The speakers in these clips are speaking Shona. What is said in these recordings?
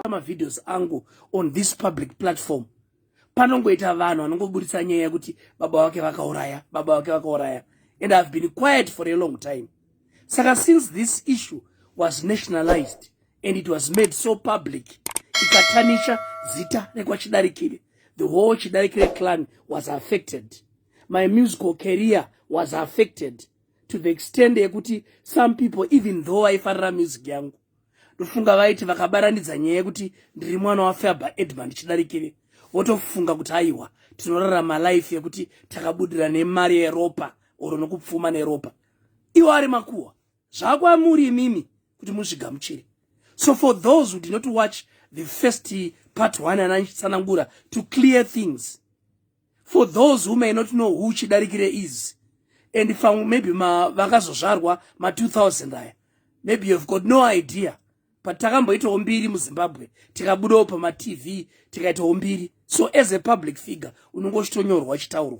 mavideos angu on this public platform panongoita vanhu vanongoburitsa nyaya yekuti baba wake vakauraya baba wake vakauraya and ihave been quiet for a long time saka since this issue was nationalized and it was made so public ikatanisha zita rekwachidarikire the whole chidarikire clan was affected my musical career was affected to the extend yekuti some people even though vaifarira music yangu ndofunga vaiti vakabaranidza nyaya yekuti ndiri mwana wafaber edman chidarikire votofunga kuti aiwa tinorarama life yekuti takabudira nemari yeropa oro nokupfuma neropa iwo ari makuwa zvakwamuri imimi kuti muzvigamuchire so for those who did not watch the first part one anatsanangura to clear things for those who may not know who chidarikire is and pamwe maybe vakazozvarwa ma 2000 aya maybe you've got no idea but takamboitawo mbiri muzimbabwe tikabudawo pamatv tikaitawo mbiri so as a public figure unonge uchitonyorwa uchitaurwa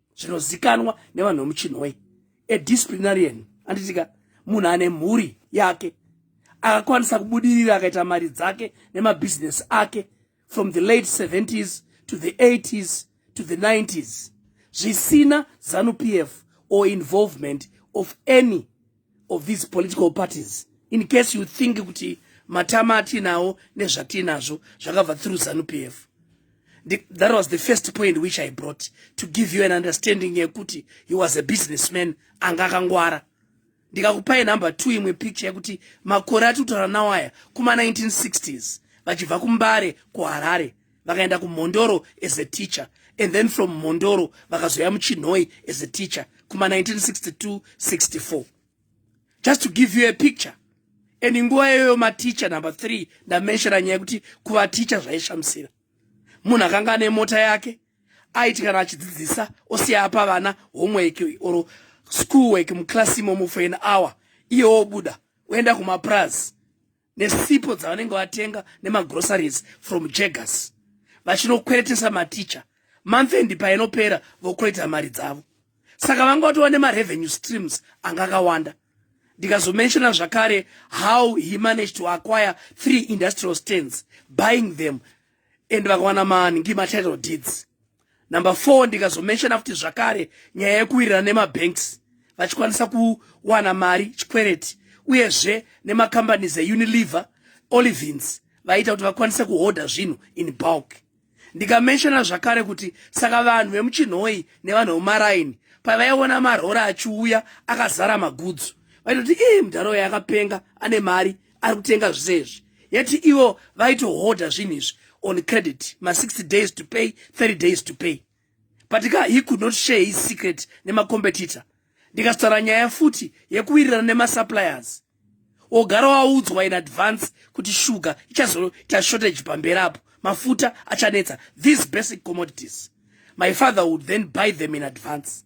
zvinozikanwa nevanhu vemuchinhoi a disciplinarian anditika munhu ane mhuri yake akakwanisa kubudirira akaita mari dzake nemabhizinesi ake from the late 70s to the 80s to the 90s zvisina zanupf or involvement of any of these political parties in case you think kuti matama atinawo nezvatinazvo zvakabva through zanupf that was the first point which i brought to give you an understanding yekuti he was a businessman anga akangwara ndikakupai number two imwe picture yekuti makore atitaura nawo aya kuma 1960s vachibva kumbare kuharare vakaenda kumhondoro as a teacher and then from mhondoro vakazoya muchinhoi as a teacher kuma 1962 64 just to give you a picture and nguva iyoyo maticha number three ndamenshera nyaya yekuti kuvaticha zvaishamisira munhu akanga ane mota yake aiti kana achidzidzisa osiya apa vana homework or school work muclass imomo for an hour iye wobuda oenda kumapraz nesipo dzavanenge vatenga nemagroceries from jaggers vachinokweretesa maticha manfendi painopera vokoita mari dzavo saka vanga vatova nemarevenue streams anga akawanda ndikazomenshona zvakare how he managed to acquire three industrial stands buying them and vakawana mangi matitle deeds number four ndikazomenshona futi zvakare nyaya yekuwirirana nemabanks vachikwanisa kuwana mari chikwereti uyezve nemacompanies eunilever olivins vaiita kuti vakwanise kuhodha zvinhu in bulk ndikamenshona zvakare kuti saka vanhu vemuchinhoi nevanhu vemumaraini pavaiona marora achiuya akazara magudzo vaitoti ii mudhara uya akapenga ane mari ari kutenga zvese izvi yati ivo vaitohodha zvinhu izvi on credit ma60 days to pay 30 days to pay but ka he could not share his secret nemacompetitor ndikazotaura nyaya futi yekuwirirana nemasuppliers ogara waudzwa in advance kuti shuga ichazoita shortage pamberi apo mafuta achanetsa these basic commodities my father would then buy them in advance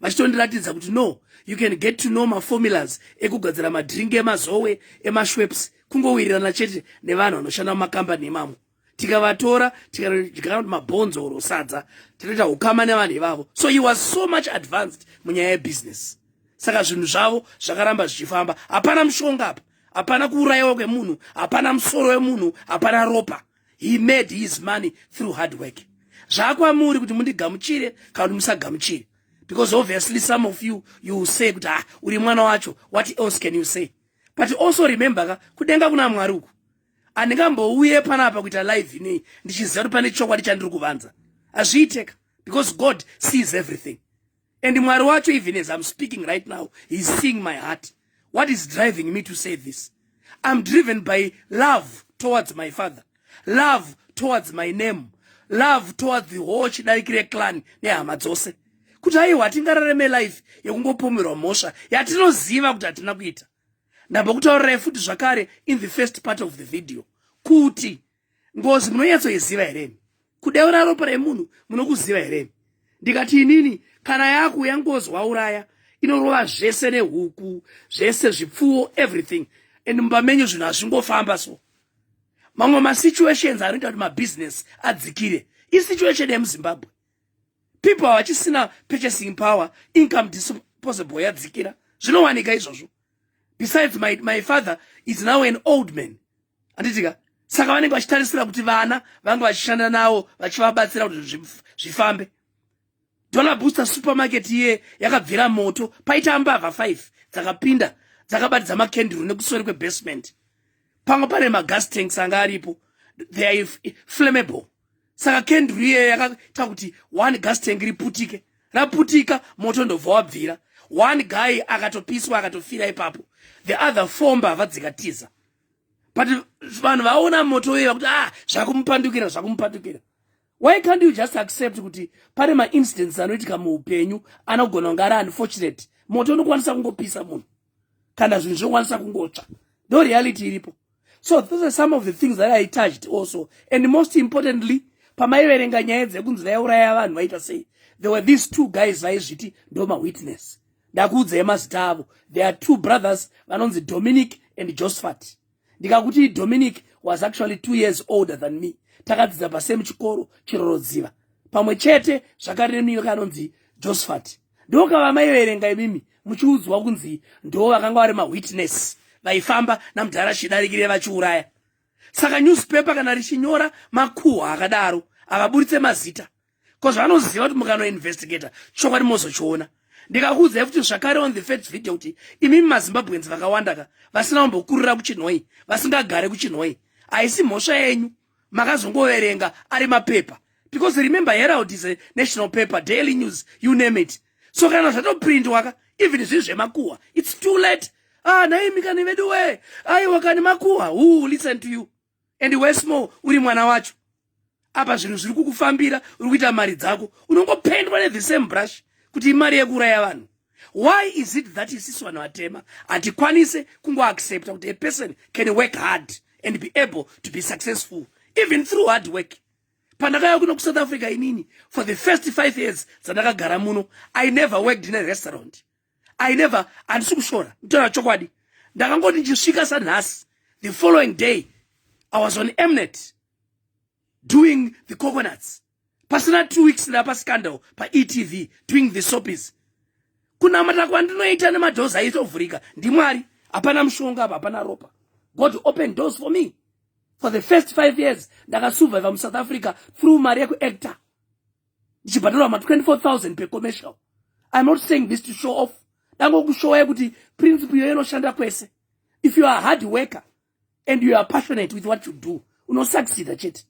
vachitondiratidza kuti no you can get to know maformulas ekugadzira madrink emazowe emashweps kungowirirana chete nevanhu vanoshanda mumakambani emamwe tikavatora tikadyaa kuti mabhonzo or sadza tinoita ukama nevanhu ivavo so he was so much advanced munyaya yebusiness saka zvinhu zvavo zvakaramba zvichifamba hapana mushonga apa hapana kuurayiwa kwemunhu hapana musoro wemunhu hapana ropa he made his money through hard work zvakwamuri kuti mundigamuchire kana kuti musagamuchire because obviously some of you you will say kuti ah uri mwana wacho what else can you say but also remember ka kudenga kuna mwari uku handingambouye panapa kuita live inei ndichiziva kuti pane chokwadi chandiri kuvanza hazviiteka because god sees everything and mwari wacho even as i'm speaking right now he's seeing my heart what is driving me to say this i'm driven by love towards my father love towards my name love towards the whole chidariki reclan nehama dzose kuti haiwa hatingarare melife yekungopomerwa mhosva yatinoziva kuti hatina kuita ndambokutaurirai futi zvakare in the first part of the video kuti ngozi munonyatsoiziva here imi kudeura ropa remunhu munokuziva here imi ndikati inini kana yakuuya ngozi wauraya inorova zvese nehuku zvese zvipfuwo everything and mumba menyu zvinhu hazvingofamba so mamwe masituations anoita kuti mabusiness adzikire isituation yemuzimbabwe people havachisina purchasing power income disposable yadzikira zvinowanika izvozvo besides my, my father is now an old man anditika saka vanenge vachitarisira kuti vana vange vachishanda navo vachivabatsira kuti zvifambe dollar booster supermarket iye yakabvira moto paita mbavha 5 dzakapinda dzakabatidza makenduru nekusori kwebasement pamwe pane magas tanks anga aripo they are flammable saka kendru iyeyo yakaita kuti one gas tank riputike raputika moto ndobva wabvira one guy akatopiswa akatofira ipapo the other four mbavha dzikatiza but vanhu vaona moto uye vakuti ah zvakumupandukira zvakumupandukira why can't you just accept kuti pane maincidents anoitika muupenyu anogona kunge ari unfortunate moto unokwanisa kungopisa munhu kana zvinhu zvinokwanisa kungotsva ndo reality iripo so those are some of the things that i touched also and most importantly pamaiverenga nyaya dzekunzi vaiuraya vanhu vaita sei there were these two guys vaizviti ndo mawitness ndakuudzai mazita avo there are two brothers vanonzi dominic and josphat ndikakuti dominic was actually two years older than me takadzidza pasame chikoro chirorodziva pamwe chete zvakaremniyo kanonzi josephat ndokava maiverenga imimi muchiudzwa kunzi ndoo vakanga vari mawitness vaifamba namudhara chidarikire vachiuraya saka newspaper kana richinyora makuhwa akadaro havaburitse mazita bcause vanoziva kuti mukanoinvestigator chokwadi mozochiona ndikakuudzai futi zvakare on the first video kuti imimi mazimbabweans vakawanda ka vasina kumbokurira kuchinhoi vasingagare kuchinhoi haisi mhosva yenyu makazongoverenga ari mapepa because remember herald is a national paper daily news you name it so kana zvatoprintwa ka even zvinhu zvemakuhwa it's too late ah naimikani vedu wee aiwa kani makuhwa who listen to you and wesmore uri mwana wacho apa zvinhu zviri kukufambira uri kuita mari dzako unongopendwa nethe same brush kuti imari yekuuraya vanhu why is it that isisi vanhu vatema hatikwanise kungoaccepta kuti a person can work hard and be able to be successful even through hard work pandakaya kuno kusouth africa inini for the first five years dzandakagara muno i never worked in a restaurant i never handisi kushora nditaura chokwadi ndakangoti ndichisvika sanhasi the following day i was on emnet doing the coconuts pasina two weeks ndapa scandal paetv doing the sopis kunamata kwandinoita nemadoors aitovhurika ndimwari hapana mushonga apa hapana ropa god open doors for me for the first five years ndakasurviva musouth africa through mari yekuactor ndichibhadharwa ma 24000 per commercial i'm not saying this to show off dangokushowa yekuti principle iyoyo inoshanda kwese if you are hard worker and you are passionate with what you do unosucceda chete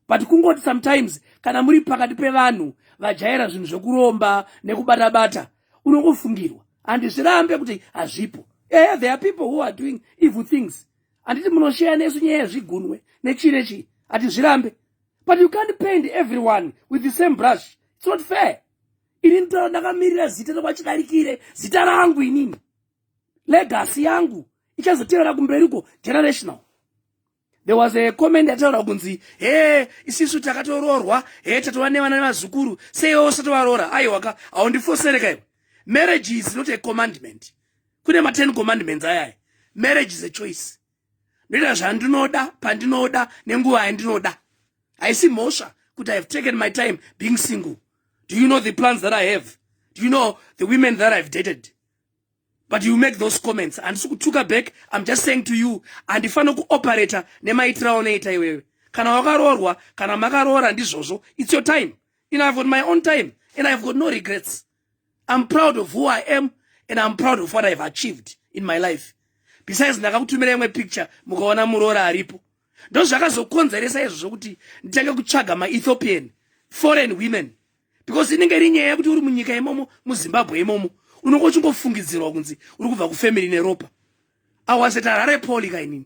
but kungoti sometimes kana muri pakati pevanhu vajaira zvinhu zvekuromba nekubata bata unongofungirwa handizvirambe kuti hazvipo ehe there are people who are doing evil things handiti munosheya nesu nyaya yezvigunwe nechii nechii hatizvirambe but you can't paint everyone with the same brush it's not fair ini nditaura ndakamirira zita rekwachidarikire zita rangu inini legasi yangu ichazotevera kumberiko generational there was a comment yataura kunzi he isisu takatoroorwa he tatova nevana nevazukuru seiwe usatovaroora aiwaka haundifosereka iwe marriage is not a commandment kune ma10 commandments ayaya marriage is a choice ndoita zvandinoda pandinoda nenguva yandinoda haisi mhosva kuti ihave taken my time being single do you know the plans that i have do you know the women that ihave dated but you make those comments handisi kutuka back im just saying to you handifanira kuoperata nemaitira aunoita iwewe kana wakaroorwa kana makaroora ndizvozvo its your time and ihave got my own time and ihave got no regrets I'm proud of who I am and I'm proud of what I've achieved in my life. Besides ndakakutumira imwe picture mukaona muroora aripo. Ndozvakazokonzeresa izvo zvokuti nditange kutsvaga maEthiopian foreign women because inenge iri nyaya yekuti uri munyika imomo muZimbabwe imomo unonge uchingofungidzirwa kunzi uri kubva kufamily neropa. I was at Harare Poly kainini.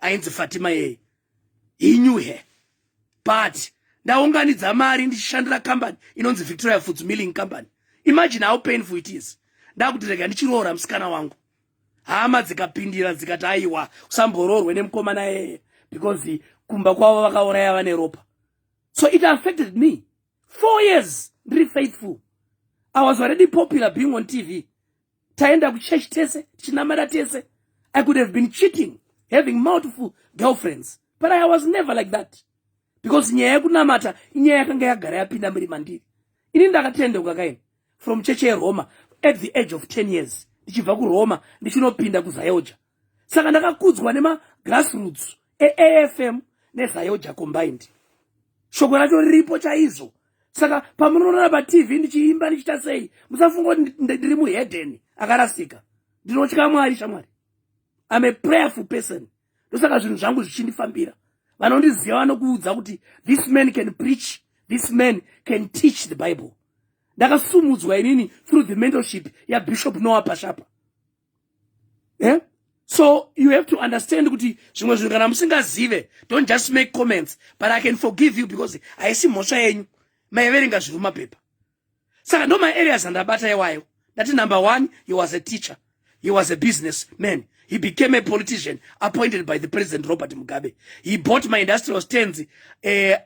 ainzi fatima yeye he knew her but ndaunganidza mari ndichishandira company inonzi victoria foods milling company imagine how painful it is ndakuti rega ndichiroora musikana wangu hama dzikapindira dzikati aiwa usamboroorwe nemukomana yeye because kumba kwavo vakauraya vane ropa so it affected me four years ndiri faithful i was already popular being on tv taenda kuchurch tese tichinamata tese i could have been cheating having multiple girlfriends but i was never like that because nyaya yekunamata inyaya yakanga yagara yapinda muri mandiri ini ndakatendeuka kaini from cheche yeroma at the age of 10 years ndichibva kuroma ndichinopinda kuzayoja saka ndakakudzwa nemagrassroots eafm nezayoja combined shoko racho riripo chaizvo saka pamunoona patv ndichiimba ndichiita sei musafunga kuti ndiri muhedeni akarasika ndinotya mwari shamwari im a prayerful person ndosaka zvinhu zvangu zvichindifambira vanondiziva vanokuudza kuti this man can preach this man can teach the bible ndakasumudzwa inini through the mentorship yabishop noah pashapa eh? so you have to understand kuti zvimwe zvinhu kana musingazive don't just make comments but i can forgive you because haisi mhosva yenyu maiverenga zviri mumapepa saka ndo maareas andabata iwayo ndati number one he was a teacher he was a business man he became a politician appointed by the president robert mugabe he bought my industrial stands eh,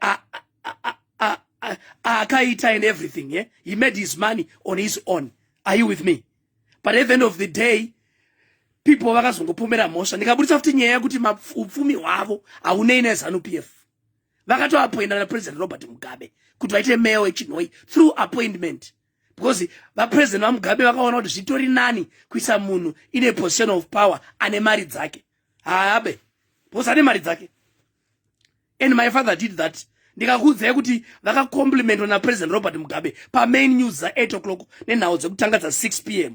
akaita and everything yeah? he made his money on his own are you with me but at the end of the day people vakazongopomera mhosva ndikaburitsa futi nyaya yekuti upfumi hwavo haunei nezanup f vakatoapoinda napresident robert mugabe kuti vaite meya wechinhoi through appointment because vapresident vamugabe vakaona kuti zvitori nani kuisa munhu ine position of power ane mari dzake haabe because ane mari dzake and my father did that ndikakuudzai kuti vakacomplimentwa napresident robert mugabe pamain news dza 8 o'clock nenhau dzekutanga dza 6 p m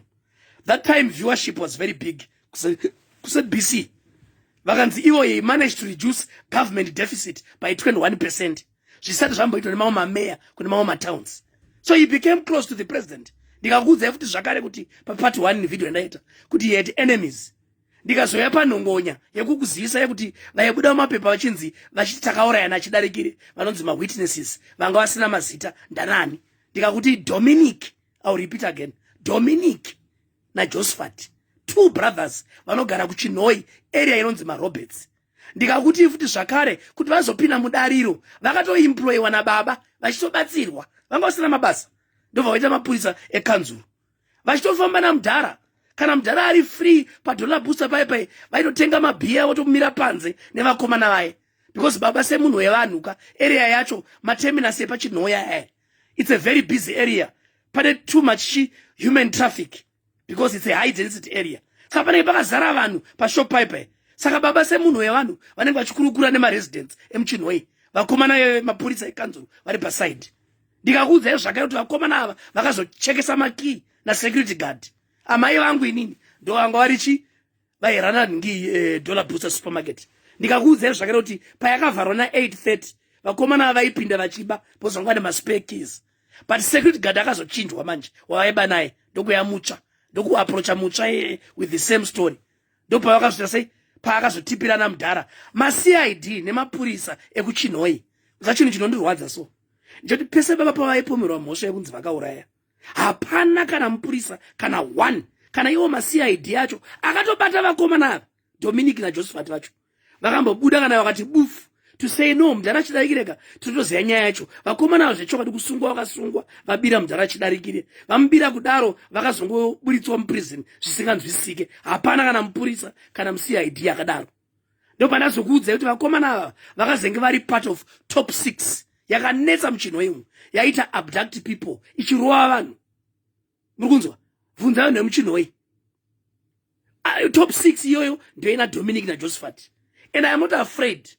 that time viewership was very big kusebc vakanzi ivo he managed to reduce government deficit by 21 percent zvisati zvamboitwa nemamwe mameya kune mamwe matowns so he became close to the president ndikakuudzai futi zvakare kuti papart one video yandaita kuti he had enemies ndikazouya panhongonya yekukuzivisa yekuti vaibuda mumapepa vachinzi vachiti takaurayana achidarikire vanonzi mawitnesses vanga vasina mazita ndanani ndikakuti dominic ill repeat again dominic najosephat two brothers vanogara kuchinhoi area inonzi maroberts ndikakuti futi zvakare kuti vazopinda mudariro vakatoimployiwa nababa vachitobatsirwa vanga vasina mabasa ndobva vaita mapurisa ekanzuro vachitofamba namudhara kana mudhara ari free padollar booster paye paye vaitotenga mabhiya votomira panze nevakomana vaye because baba semunhu wevanhu ka area yacho mateminus epachinhoya e eh, it's a very busy area pane too much human traffic because it's a high density area saka panenge pakazara vanhu pashop paye paye saka baba semunhu wevanhu vanenge vachikurukura nemaresidents emuchinhoyi vakomana vemapurisa ekanzuru vari paside ndikakuudzai zvakare kuti vakomana ava vakazochekesa makii nasecurity guard amai vangu inini ndo vanga vari chi vairana ngi eh, dollar booster supermarket ndikakuudzai zvakare kuti payakavharwa na 830 vakomana ava vaipinda vachiba pozvangwa nemaspekis but security guard akazochinjwa manje wavaiba naye ndokuya mutsva ndokuaprocha mutsva eh, with the same story ndopavakazvita sei paakazotipirana mudhara macid nemapurisa ekuchinhoi zachunhu chinondirwadza so ndichoti pese baba pavaipomerwa mhosva yekunzi vakauraya hapana kana mupurisa kana one kana iwo macid acho akatobata vakomana ava dominic najosephat vacho vakambobuda kana vakati bufu to say no mudhara chidarikireka tinotoziva nyaya yacho vakomana avo zvechokwadi kusungwa vakasungwa vabira mudhara chidarikire vamubira kudaro vakazongoburitswa muprison zvisinganzwisike hapana kana mupurisa kana mucid akadaro ndopanazokuudzai kuti vakomana ava vakazenge vari part of top six yakanetsa muchinho imwe yaita abduct people ichirova vanhu muri kunzwa bvunza vanhu vemuchinhoi ah, top six iyoyo ndoina dominic najosephat and iam not afraid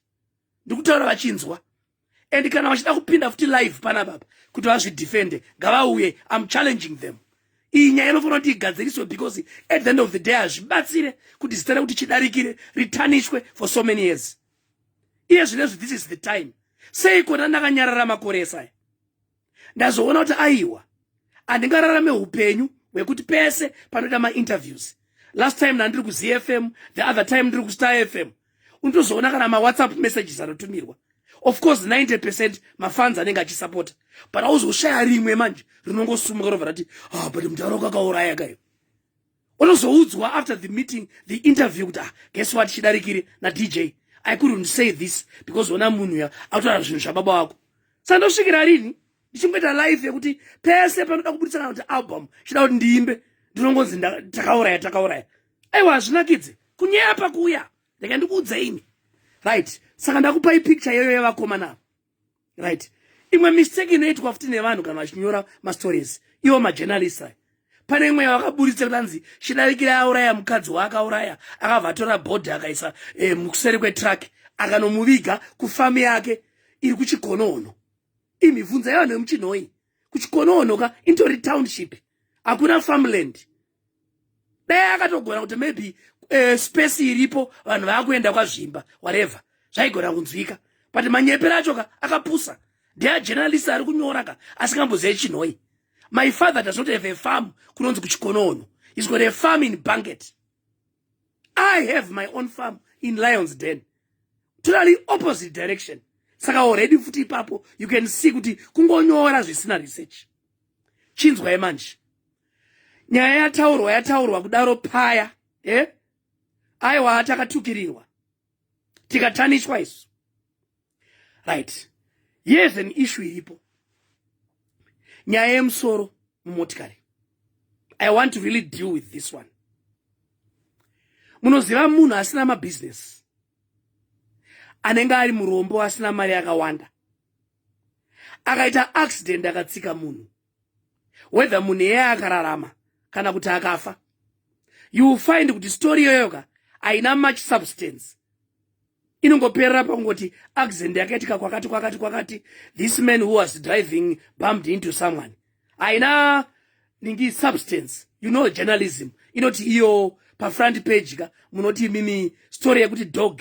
ndikutaura vachinzwa and kana vachida kupinda futi live pana baba kuti vazvidefende ngavauye am challenging them iyi nyaya inofanira kuti igadziriswe because at the end of the day hazvibatsire kuti zita rekuti chidarikire ritanishwe for so many years iye zvinezvi this is the time sei kona ndakanyarara makore esaya ndazoona kuti aiwa handingararame upenyu hwekuti pese panoita mainterviews last time nandiri kuzfm the other time ndiri kustar fm unotozoona kana mawhatsapp messages anotumirwa of course 90 percent mafans anenge achisapota but auzoshaya rimwe manje rinongosumuka rovha rati ah but mudhara ukakauraya kayo unozoudzwa after the meeting the interview kuti ah guess what chidarikire nadj i couldn't say this because ona munhu uya autaura zvinhu zvababa wako saka ndosvikira rini ndichingoita life yekuti pese panoda kubudisa kana kuti album chida kuti ndiimbe ndinongonzi takauraya takauraya aiwa hazvinakidze kunyepa kuya ndika ndikuudza ini right saka ndakupai picture iyoyo yavakomana right imwe mistake inoitwa futi nevanhu kana vachinyora mastories iwo majournalist aya pane imwe yavakaburitsa kuti anzi chidarikira auraya mukadzi waakauraya akavatora bhodhi akaisa eh, mukuseri kwetruck akanomuviga kufamu yake iri kuchikonohono imibvunza yavanhu vemuchinhoyi kuchikonohono ka intori township hakuna farmland dai akatogona kuti maybe uh, space iripo vanhu vakuenda kwazvimba whatever zvaigona kunzwika but manyepera acho ka akapusa ndea journalist ari kunyora ka asingambozive chinhoi my father does not have a farm kunonzi kuchikonono he's got a farm in banket i have my own farm in lions den totally opposite direction saka already futi ipapo you can see kuti kungonyora zvisina research chinzwai manje nyaya yataurwa yataurwa kudaro paya eh? aiwa takatukirirwa tikatanishwa isu right yes an issue iripo nyaya yemusoro mumotikari i want to really deal with this one munoziva munhu asina mabhizinesi anenge ari murombo asina mari yakawanda akaita accident akatsika munhu whether munhu iyeye akararama kana kuti akafa you will find kuti story iyoyoka haina much substance inongoperera pakungoti accident yakaitika kwakati kwakati kwakati this man who was driving bumped into someone haina ningi substance you know journalism inoti iyo pafront page ka munoti imimi story yekuti dog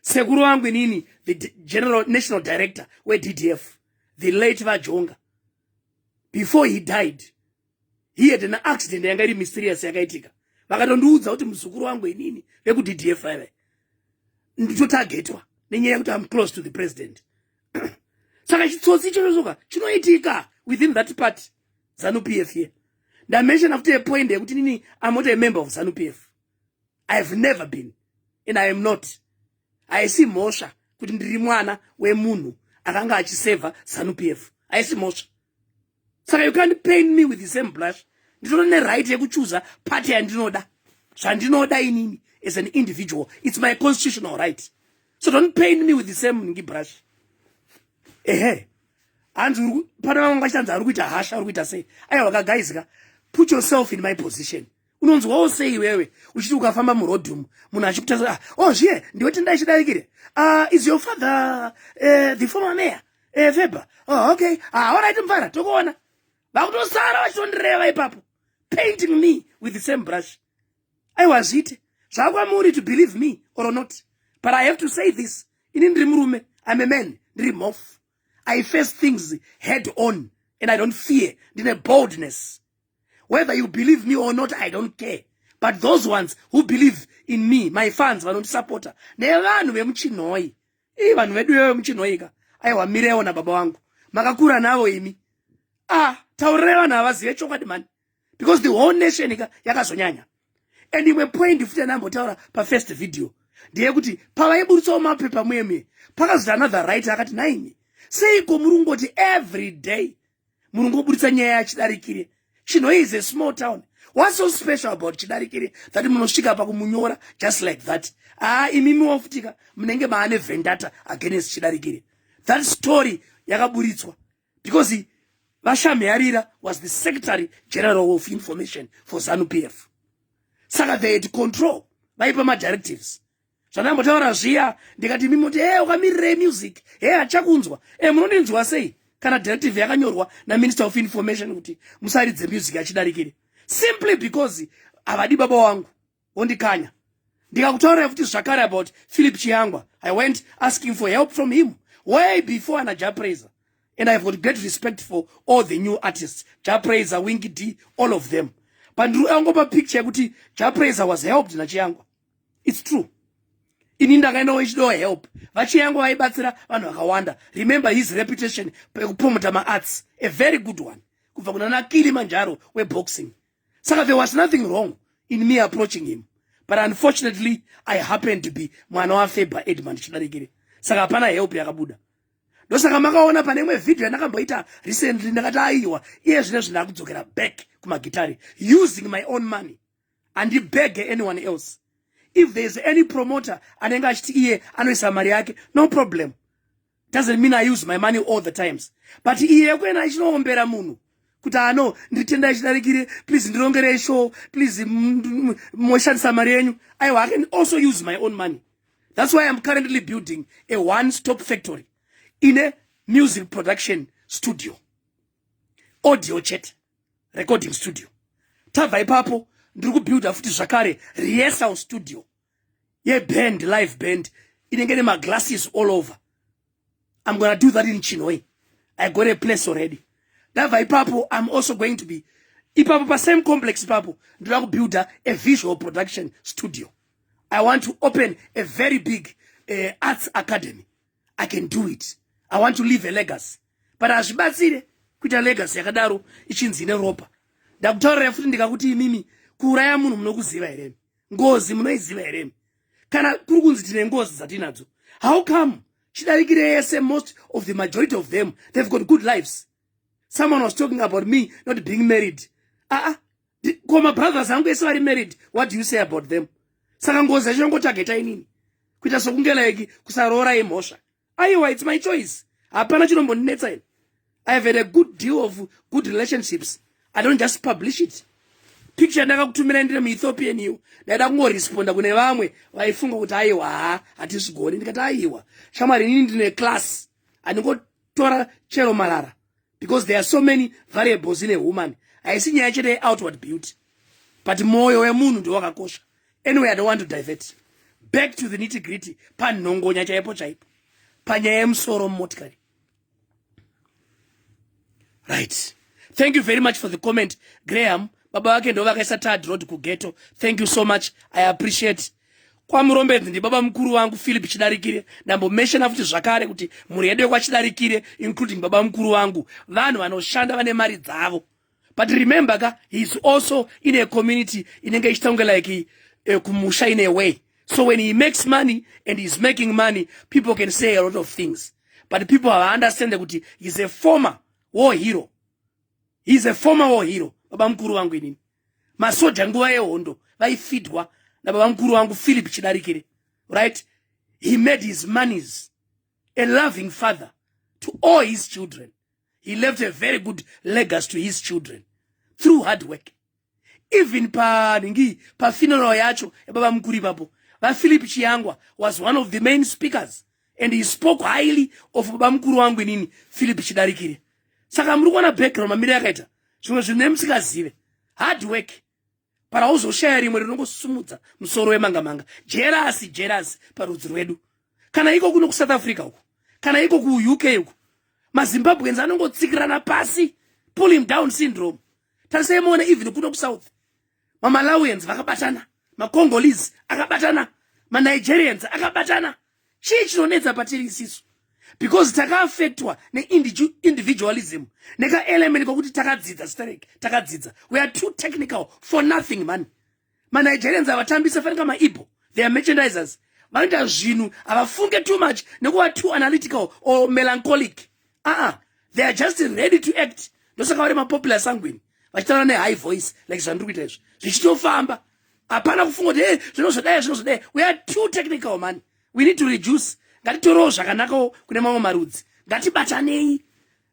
sekuru wangu inini the general national director weddf the late vajonga before he died he had an accident yanga iri mysterious yakaitika vakatondiudza kuti muzukuru wangu inini vekuddf vaive nditotagetwa nenyaya yekuti am close to the president saka chitsotsi ichochosoka chinoitika within that part zanu p f ye ndamenshona futi yepoint yekuti nini amota yemember of zanu p f i have never been and i am not haisi mhosva kuti ndiri mwana wemunhu akanga achisevha zanupf haisi mhosva saka you can't pain me with the same blush nditoro neright yekuchuza party yandinoda zvandinoda inini as an individual it's my constitutional right so don't pain me with the same ngi brush ehe hanzi pane vamwe vachitanzi ari kuita hasha ari kuita sei aiwa ka guys ka put yourself in my position unonzwawo sei iwewe uchiti ukafamba murodhi umu munhu achikutarisa ah, oh zviye ndiwe tenda ichidarikire uh, ah, is your father uh, the former mayor uh, eh, feba oh, ah, okay ah, orit mvara tokuona vakutosara vachitondireva ipapo painting me with the same brush aiwa zviite zvakwamuri to believe me or not but i have to say this ini ndiri murume im a man ndiri mof i face things head on and i don't fear ndine boldness whether you believe me or not i don't care but those ones who believe in me my fans vanondisapota nevanhu vemuchinhoi ii vanhu vedu ivo vemuchinhoi ka aiwa mirewo nababa wangu makakura navo imi ah taurirai vanhu havazive chokwadi mani because the whole nation ka yakazonyanya and imwe point futi anambotaura pafirst video ndeyekuti pavaiburitsawo mapepa muye muye pakazoti another right akati naimi seiko muri kungoti every day munongoburitsa nyaya yachidarikire chinho is a small town what's so special about chidarikire that munosvika pakumunyora just like that aa ah, imimi wafutika munenge maane vendata against chidarikire that story yakaburitswa because vashamhearira was the secretary general of information for zanu p f saka they had control vaipa madirectives zvandambotaura zviya ndikati imi moti e ukamirirei music he hachakunzwa e eh, munondinzwa sei kana directive yakanyorwa naminister of information kuti musaridze music achidarikire simply because havadi baba wangu wondikanya ndikakutaurira futi zvakare about philip chiyangwa i went asking for help from him way before ana japraiser and ihave got great respect for all the new artists japraiser winky d all of them pandiri yangopa picture yekuti japraiser was helped nachiyangwa its true ini ndakaendawo ichidawo help vachiya yangu vaibatsira vanhu vakawanda remember his reputation pekupromoter maarts a very good one kubva kuna nakili manjaro weboxing saka there was nothing wrong in me approaching him but unfortunately i happened to be mwana wafeber edmund chidarikire saka hapana help yakabuda ndosaka makaona pane imwe vhidhiyo yandakamboita recently ndakati aiwa iye zvine zvindakudzokera back kumagitari using my own money handibege anyone else if there is any promoter anenge achiti iye anoisa mari yake no problem doesn't mean i use my money all the times but iye yekuenda achinoombera munhu kuti ano nditenda achidarikire please ndirongerei show please moshandisa mari yenyu aiwa i can also use my own money that's why iam currently building a one stop factory ine music production studio audio chete recording studio tabva ipapo ndiri kubuilda futi zvakare rehearsal studio yeband live band inenge nemaglasses all over i'm gonna do that in chinhoi i got a place already ndabva ipapo i'm also going to be ipapo pasame complex ipapo ndinoda kubuilda a visual production studio i want to open a very big uh, arts academy i can do it i want to leave a legacy but hazvibatsire kuita legacy yakadaro ichinzi ine ropa ndakutaurira futi ndikakuti imimi kuuraya munhu munokuziva here ngozi munoiziva here kana kuri kunzi tine ngozi dzatinadzo how come chidarikire yese most of the majority of them they've got good lives someone was talking about me not being married aa ah, ah, ko mabrothers angu ese vari married what do you say about them saka ngozi yacho yangotageta inini kuita sokunge like kusaroora imhosva aiwa its my choice hapana chinombondinetsa ini i have had a good deal of good relationships i don't just publish it picture ndakakutumira ndiri muethiopian iwo ndaida kungoresponda kune vamwe vaifunga kuti aiwa ha hatizvigoni ndikati aiwa shamwari inini ndine class handingotora chero marara because there are so many variables in a woman haisi nyaya chete yeoutward beauty but mwoyo wemunhu ndo wakakosha anyway i don't want to divert back to the nitty gritty panhongonya chaipo chaipo panyaya yemusoro mumotikari right thank you very much for the comment graham baba vake ndo vakaisa tad road kugeto thank you so much i appreciate kwamurombedzi ndibaba mukuru vangu philip chidarikire ndambomeshena futi zvakare kuti mhuri yedu yekwachidarikire including baba mukuru vangu vanhu vanoshanda vane mari dzavo but remember ka heis also in a community inenge ichiita kunge like uh, kumusha in a way so when he makes money and heis making money people can say a lot of things but people havaunderstande kuti heis a former war hero heis a former war hero baba mukuru vangu inini masoja nguva yehondo vaifidwa nababa mukuru wangu philip chidarikire right he made his monies a loving father to all his children he left a very good legacy to his children through hard work even panhingi pafuneral yacho yababa mukuru ipapo vaphilip chiyangwa was one of the main speakers and he spoke highly of baba mukuru wangu inini philip chidarikire saka muri kuona background mamire yakaita zvimwe zvinhu nemusingazive hard work para hauzoshaya rimwe rinongosumudza musoro wemanga manga jerasi jerasi parudzi rwedu kana iko kuno kusouth africa uku kana iko kuuk uku mazimbabweans anongotsikirana pasi pull him down syndrome tarisai moona even kuno kusouth mamalawians vakabatana macongolese akabatana manigerians akabatana chii chinonetsa patiri isisu because takaafectwa neindividualism nekaelement kokuti takadzidza sterek takadzidza we are too technical for nothing mani manigerians avatambisa fanika maibho they are merchandisers vanoita zvinhu havafunge too much nekuva too analytical or melancholic aa ah, they are just ready to act ndosaka vari mapopular sanguini vachitaura nehigh voice like zvandiri kuita izvi zvichitofamba hapana kufunga kuti e zvino zvodaya zvino zvodaya we are too technical mani we need to reduce ngatitorewo zvakanakawo kune mamwe marudzi ngatibatanei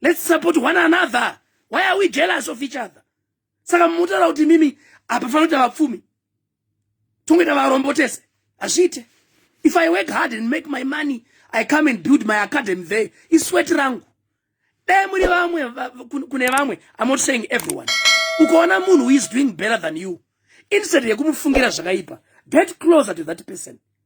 let's support one another why are we jealous of each other saka munotaura kuti mimi apa fanoita vapfumi tongoita varombo tese hazviite if i work hard and make my money i come and build my academy there iswet rangu dai muri vamwe kune vamwe i'm not saying everyone ukaona munhu who is doing better than you instead yekumufungira zvakaipa get closer to that person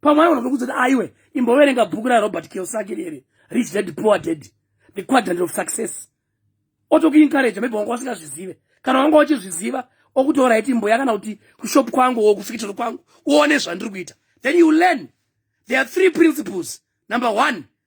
pamwe aigona kutokuudza kuti aiwe imboverenga bhuku rarobert kiosaki riri rich dad poor dad the quadrant of success otokuinkareja maybe wanga wasingazvizive kana wanga uchizviziva okutora iti mboya kana kuti kushop kwangu o kufikitoro kwangu uone zvandiri kuita then you learn there are three principles number one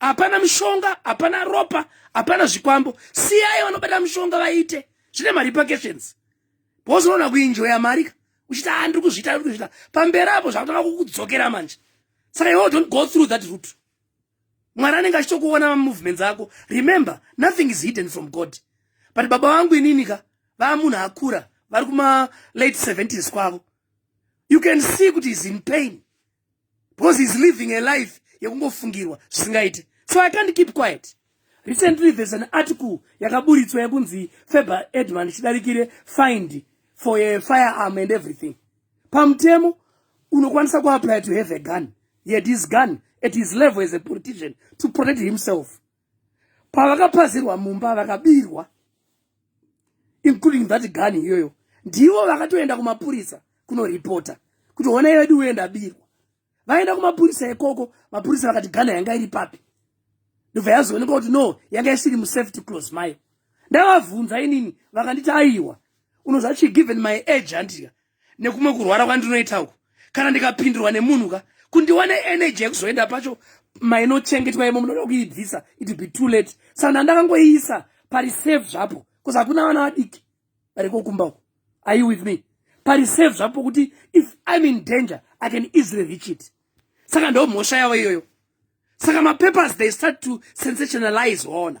hapana mishonga hapana ropa hapana zvikwambo siyai vanobata mishonga vaite zvine marepercussions because unoona kuinjoya mari ka uchiti a ah, ndiri kuzviita ndiri kuzviita pamberi apo zvakutanga kukudzokera manje saka iwo don't go through that route mwari anenge achitokuona mamovements ako remember nothing is hidden from god but baba vangu inini ka vaa munhu akura vari kuma late 70s kwavo you can see kuti is in pain because he's living a life yekungofungirwa zvisingaite so i can't keep quiet recently there's an article yakaburitswa yekunzi faber edman ichidarikire find for a firearm and everything pamutemo unokwanisa kuapply to have a gun yet his gun at his level as a politician to protect himself pavakapazirwa mumba vakabirwa including that gani iyoyo ndivo vakatoenda kumapurisa kunoripota kuti hona yedu uye ndabirwa vaenda kumapurisa ikoko mapurisa vakati gana yanga iri papi ndobva yazoonekwa kuti no yanga isiri musafety close mayo ndavavhunza inini vakanditi aiwa unozvachi given my age handika nekumwe kurwara kwandinoita uku kana ndikapindirwa nemunhu ka kundiwane energy yekuzoenda pacho mainochengetwa imo munoda kuibvisa it be too late sana ndakangoiisa pari safe zvapo bcause hakuna vana vadiki varikokumba uku are you with me pari safe zvapo kuti if im in danger i can easily reach it saka ndo mhosva yavo iyoyo saka mapapers they start to sensationalize waona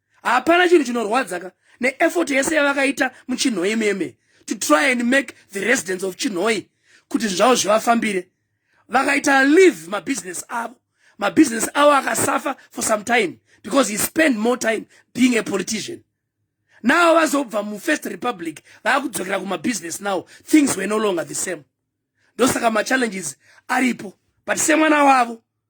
hapana chinhu chinorwadza ka neeffort yese yavakaita muchinhoi meme to try and make the residents of chinhoi kuti zvavo zvivafambire vakaita leave mabusiness avo mabusiness avo akasafa for some time because he spend more time being a politician now vazobva mufirst republic vaakudzokera kumabusiness now things were no longer the same ndosaka machallenges aripo but semwana wavo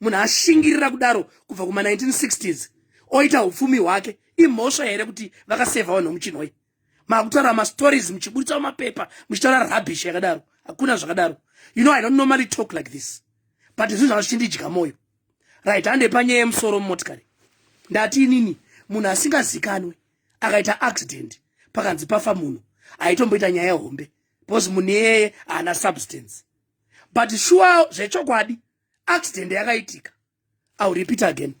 munhu ashingirira kudaro kubva kuma 1960s oita upfumi hwake imhosva here kuti vakasevha vanhu muchinhoi makutaura mastories muchiburitsa mapepa muchitaura rubbish yakadaro hakuna zvakadaro you know i don't normally talk like this but zvinhu zvanga zvichindidya mwoyo right hande panyaya yemusoro mumotikari ndati inini munhu asingazikanwe akaita accident pakanzi pafa munhu aitomboita nyaya hombe because munhu iyeye haana substance but shuwa zvechokwadi accident yakaitika ill repeat again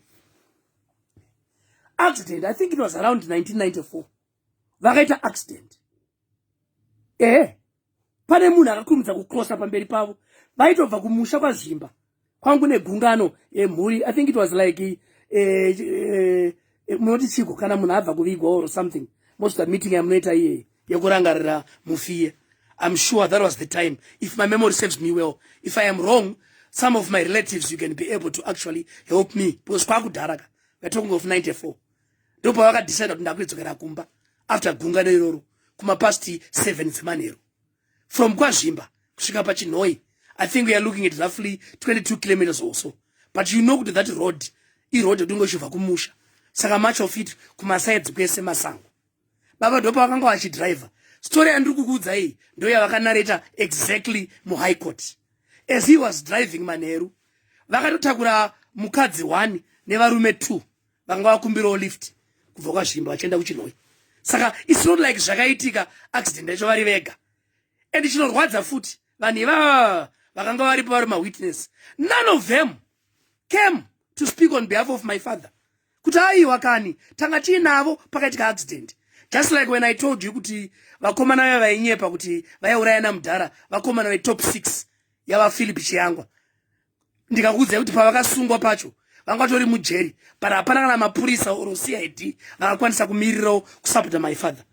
accident i think it was around 1994 vakaita accident ehe pane munhu akakurumidza kucrosa pamberi pavo vaitobva kumusha kwazvimba kwangu negungano emhuri eh, i think it was like eh, eh, eh, munoti chiko kana munhu abva kuvigwa or something most of the meeting yamunoita iyeyi yekurangarira mufiye I'm sure that was the time. If my memory serves me well, if I am wrong, some of my relatives, you can be able to actually help me. Because kwa kudaraka, we're talking of 94. Dopa waka decide that ndakuidzo kera kumba after gunga neroro kuma past 7 zemanero. From kwa zimba, kushika pa chinoi. I think we are looking at roughly 22 kilometers or so. But you know that road, i road yodungo shuva kumusha. Saka much of it kuma sides kwese masango. baba dopa vakanga vachidriver story yandiri kukuudza iyi ndoyavakanareta exactly muhigh court as he was driving manheru vakatotakura mukadzi one nevarume two vakanga vakumbirawo lift kubva kwazvimba vachienda kuchinoi saka its not like zvakaitika accident yacho vari vega and chinorwadza futi vanhu ivava vakanga varipo vari mawitness none of them came to speak on behalf of my father kuti aiwa kani tanga tiinavo pakaitika accident just like when i told you kuti vakomana vaya vainyepa kuti vaiurayana mudhara vakomana vetop six yavaphilip chiyangwa ndikakuudzai kuti pavakasungwa pacho vanga vatori mujeri but hapana kana mapurisa or cid vakakwanisa kumirirawo kusapota my father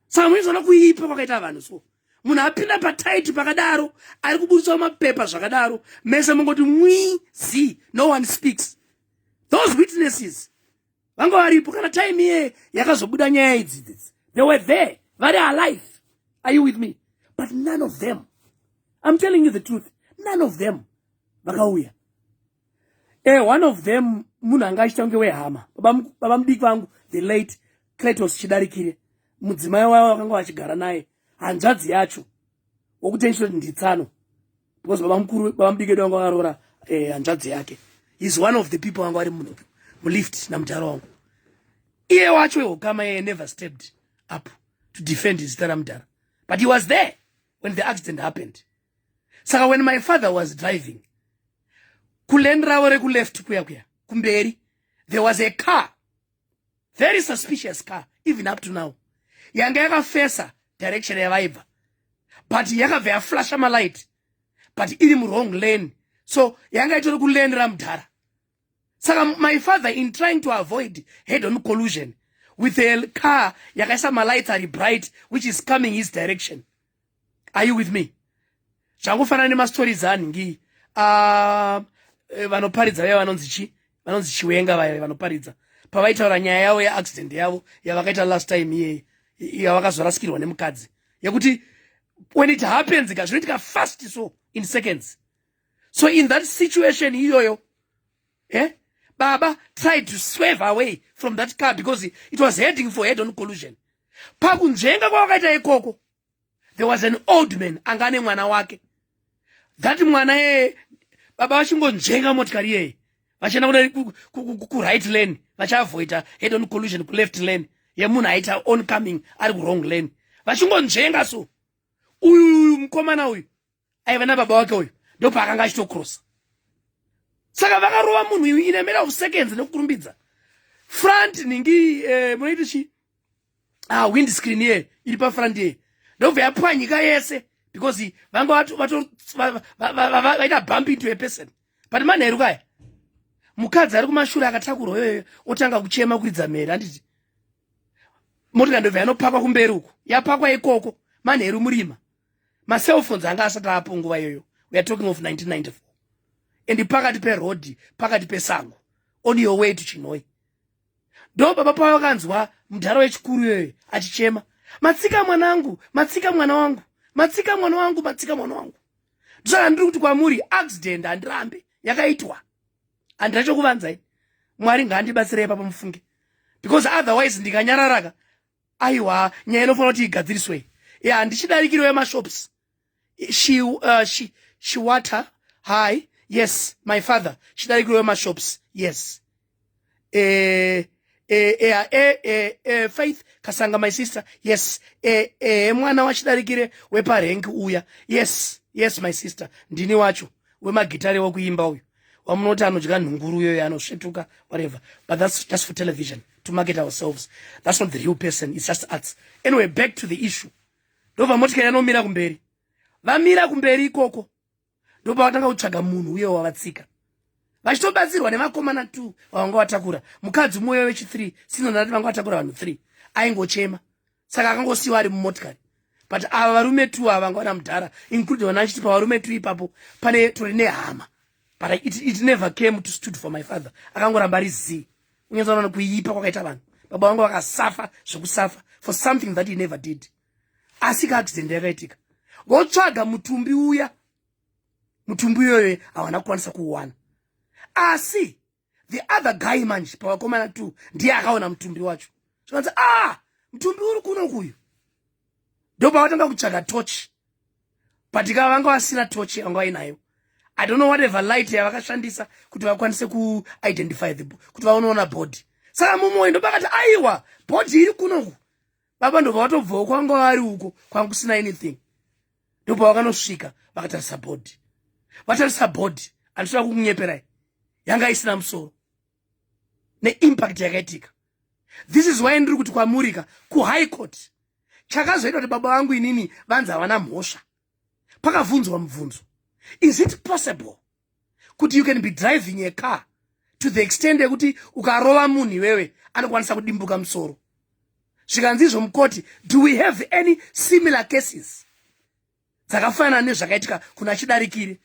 saka muizoona kuipa kwakaita vanhu so munhu apinda pataiti pakadaro ari kubudisa mapepa zvakadaro mese mungoti mwizi no one speaks those witnesses vanga varipo kana time iye yakazobuda nyaya idzi this they were there vari alive are you with me but none of them i'm telling you the truth none of them vakauya e eh, one of them munhu anga achita kunge wehama baba mudiki vangu the late cletos chidarikire mudzimai wavo vakanga vachigara naye hanzvadzi yacho wokuti nditsano because baba mukuru baba mudiki edu vanga varoora eh, hanzvadzi yake is one of the people vanga vari mulift namudhara wangu iye wacho wehukama yeye never stepped up to defend zita ramudhara but he was there when the accident happened saka when my father was driving kuleni ravo rekuleft kuya kuya kumberi there was a car very suspicious car even up to now yanga yakafesa direction yavaibva but yakabva yaflasha malight but iri muwrong lane so yanga itori kulane ramudhara saka my father in trying to avoid head on collusion with a car yakaisa malights ari bright which is coming his direction are you with me zvangofanana nemastories anhingi ah, eh, vanoparidza vaya vanonzi chi vanonzi chiwenga vaya vanoparidza pavaitaura nyaya yavo yeaccident yavo yavakaita last time iyeyi yavakazorasikirwa nemukadzi yekuti when it happens ka zvinoitika fast so in seconds so in that situation iyoyo eh? baba tried to swerve away from that car because it was heading for head on collusion pakunzvenga kwavakaita ikoko there was an old man anga ane mwana wake that mwana yeye baba vachingonzvenga motikari yeye vachienda kuda kuright lane vachiavoida head on collusion kuleft lane yemunhu aita oncoming ari kurong lane vachingonzvenga so uyu uyu mukomana uyu aiva nababa wake uyu ndopaakanga achitokrosa saka vakarova munhu uyu in a matter of seconds nekukurumbidza front ningi eh, munoiti chi ah, wind screen ye iri pafront ye ndobva yapwanyika yese because vanga vaita bump into a person but manheru kaya mukadzi ari kumashure akatakurwa yoyo otanga kuchema kuridza mhere handiti motika ndobva yanopakwa kumberi uko yapakwa ikoko manheru murima macellphones anga asati apo nguva iyoyo weare talking of 1994 and pakati perodhi pakati pesango on your way to chinoi ndo baba pavo vakanzwa mudhara wechikuru iyoyo achichema matsika mwanangu matsika mwana wangu matsika mwana wangu matsika mwana wangu ndosaka ndiri kuti kwamuri accident handirambe yakaitwa handina chokuvanzai mwari ngaandibatsirei papa mufunge because otherwise ndikanyararaka aiwa nyaya inofanira kuti igadziriswe ya handichidarikiriwo yemashops she, uh, she, she water hi yes my father chidarikiriwo yemashops yes eh, eh, eh, ah, eh, eh, eh, faith kasanga my sister yes eh, eh, mwana wachidarikire weparengi uya yes yes my sister ndini wacho wemagitare wekuimba uyu wamunoti anodya nhunguru uyoyo anosvetuka whatever but that's just for television to market ourselves that's not the real person it's just arts anyway back to the issue ndobva motikari anomira kumberi vamira kumberi ikoko ndobva vatanga kutsvaga munhu uye wavatsika vachitobatsirwa nevakomana t vavanga vatakura mukadzi umoyo wechi3 sinonati vanga vatakura vanhu 3 aingochema saka akangosiyiwa ari mumotikari but ava varume two ava vanga vana mudhara including vana vachiti pavarume two ipapo pane tori nehama but it, it never came to stood for my father akangoramba ari zii unyanza unaona kuipa kwakaita vanhu baba vangu vakasafa zvekusafa for something that he never did asi ka accident yakaitika votsvaga mutumbi uya mutumbi uyoyo hawana kukwanisa kuwana asi the other guy manje pavakomana two ndiye akaona mutumbi wacho zvikanzi ah mutumbi uri kuno kuyu ndopavatanga kutsvaga tochi but ikava vanga vasina tochi vanga vainayo i don't know whatever light yavakashandisa kuti vakwanise kuidentify the kuti vaonoona body saka mumoyo ndopakati aiwa body iri kunoku baba ndobva vatobvawo kwanga vari uko kwanga kusina anything ndopavakanosvika vakatarisa bhodhi vatarisa bhodhi andisina kukunyeperai yanga isina musoro neimpact yakaitika this is why ndiri kuti kwamurika kuhigh court chakazoita kuti baba vangu inini vanzi havana mhosva pakavhunzwa mubvunzo is it possible kuti you can be driving a car to the extent yekuti ukarova munhu iwewe anokwanisa kudimbuka musoro zvikanzi izvo mukoti do we have any similar cases dzakafanana nezvakaitika kuna chidarikiri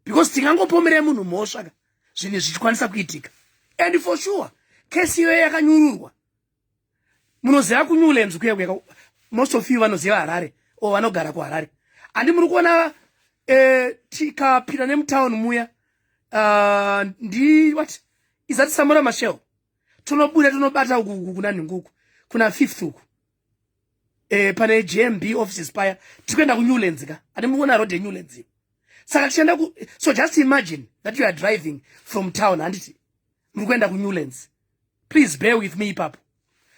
because tingangopomerei munhu mhosvaka zvinhu zvichikwanisa kuitika and for sure kesi iyoyo yakanyururwa munoziva ku newlands kuya kuya most of you vanoziva harare or vanogara kuharare handi muri kuona eh, tikapinda nemutown muya ah, ndi what izati samura mashel tonobuda tonobata uku kuna nhinguku kuna fifth uku eh, pane jmb offices paya tikuenda kunewlands ka handi muri kuona road yenewlands saka tichienda so just imagine that you are driving from town handiti muri kuenda kunewlands please bear with me ipapo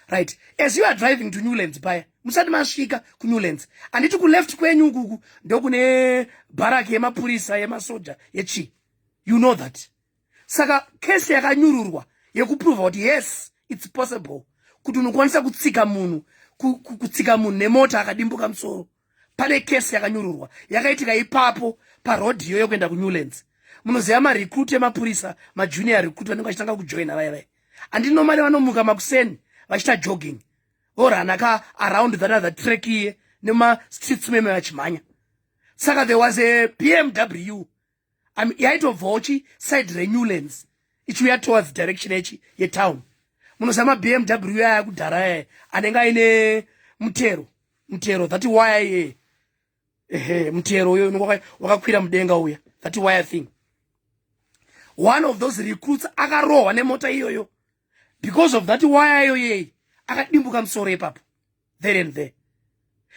right as you are driving to newlands paya musati masvika kunewlands handiti kuleft kwenyu ukuku ndokune bharaki yemapurisa yemasoja yechii you know that saka kesi yakanyururwa yekuprova kuti yes its possible kuti unokwanisa kutsika munhu kutsika munhu nemota akadimbuka musoro pane kesi yakanyururwa yakaitika ipapo parodhi iyoyo kuenda kunewlands munoziva marecruit emapurisa majunior recruit vanenge vachitanga kujoina vaya vaya andini nomari vanomuka makuseni vachiita jogging vorana ka around that other track iye nemastreets meme vachimhanya saka there was a bmw I mean, yaitobvawo chi side renewlands ichiuya towards direction yechi yetown munozama bmw yaya kudhara yaya anenge aine mutero mutero that waya iye ehe mutero uyo unenge wakakwira mudenga uya that waya thing one of those recruits akarohwa nemota iyoyo because of that waya iyoyei akadimbuka musoro ipapo there and there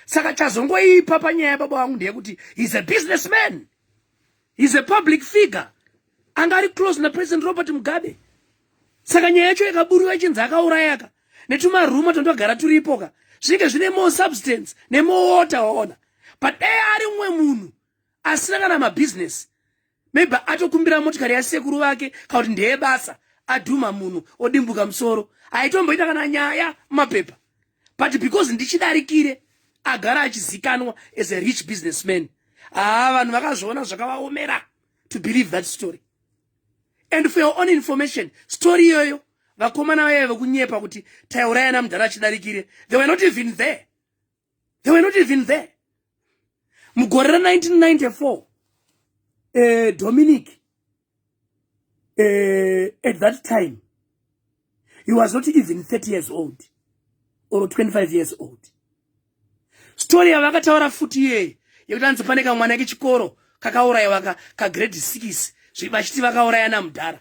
saka chazongoipa panyaya yababa wangu ndeyekuti he's a business man he's a public figure anga ari close napresident robert mugabe saka nyaya yacho yakaburiwa ichinzi akaurayaka netumaruma tondogara turipoka zvinenge zvine more substance nemowater waona but dai ari mumwe munhu asina kana mabhizinesi maybe atokumbira motikari yasekuru vake kana kuti ndeye basa adhuma munhu odimbuka musoro haitomboita kana nyaya mumapepa but because ndichidarikire agara achizikanwa as a rich business man haa vanhu vakazviona zvakavaomera to believe that story and for your own information story iyoyo vakomana vaive vekunyepa kuti taiurayana mudhara achidarikire they were not even there they were not even there mugore ra 1994 uh, dominic uh, at that time he was not even 30 years old or 25 years old story yavakataura futi iyeye yekuti anzi pane kamwana kechikoro kakaurayiwa kagrade 6 zvii vachiti vakaurayana mudhara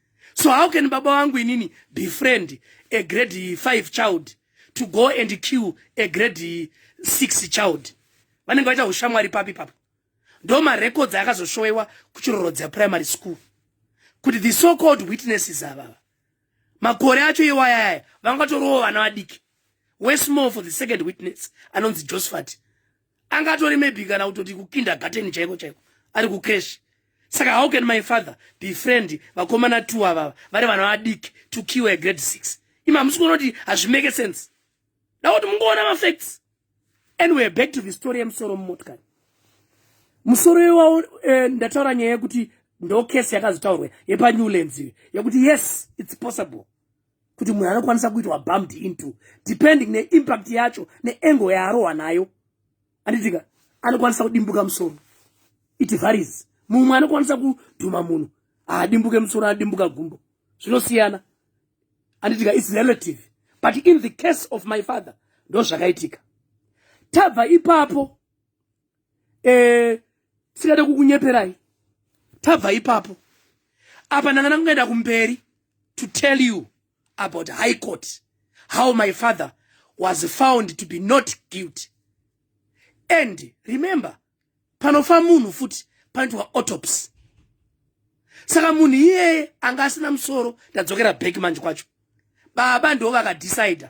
so how can baba vangu inini be friend a grade 5 child to go and kill a grade 6 child vanenge vaita ushamwari papi papo ndo marecords akazoshowewa kuchirorodza primary school kuti the so called witnesses avava makore acho iwayaya vangatorowo vana vadiki wesmall for the second witness anonzi josephat anga atori maybe kana kutoti kukindergarten chaiko chaiko ari kucresh saka how can my father be friend vakomana two avava vari vana vadiki to kill a grade six imi hamusi kuona kuti hazvimake sense da kuti mungoona mafacts and weare back to the story yemusoro mumotikari musoro iwawo eh, ndataura nyaya yekuti ndo case yakazotaurwa yepanewlands iyo yekuti yes its possible kuti munhu anokwanisa kuitwa bumped into depending neimpact yacho neengo yaarohwa nayo anditika anokwanisa kudimbuka musoro it varies mumwe anokwanisa kudhuma munhu haadimbuke musoro adimbuka gumbo zvinosiyana anditika its relative but in the case of my father ndozvakaitika tabva ipapo eh singade kukunyeperai tabva ipapo apa ndanga ndakungaenda kumberi to tell you about high court how my father was found to be not guilty and remember panofa munhu futi panoitwa autopsy saka munhu iyeye anga asina musoro ndadzokera back manje kwacho baba ndo vakadecide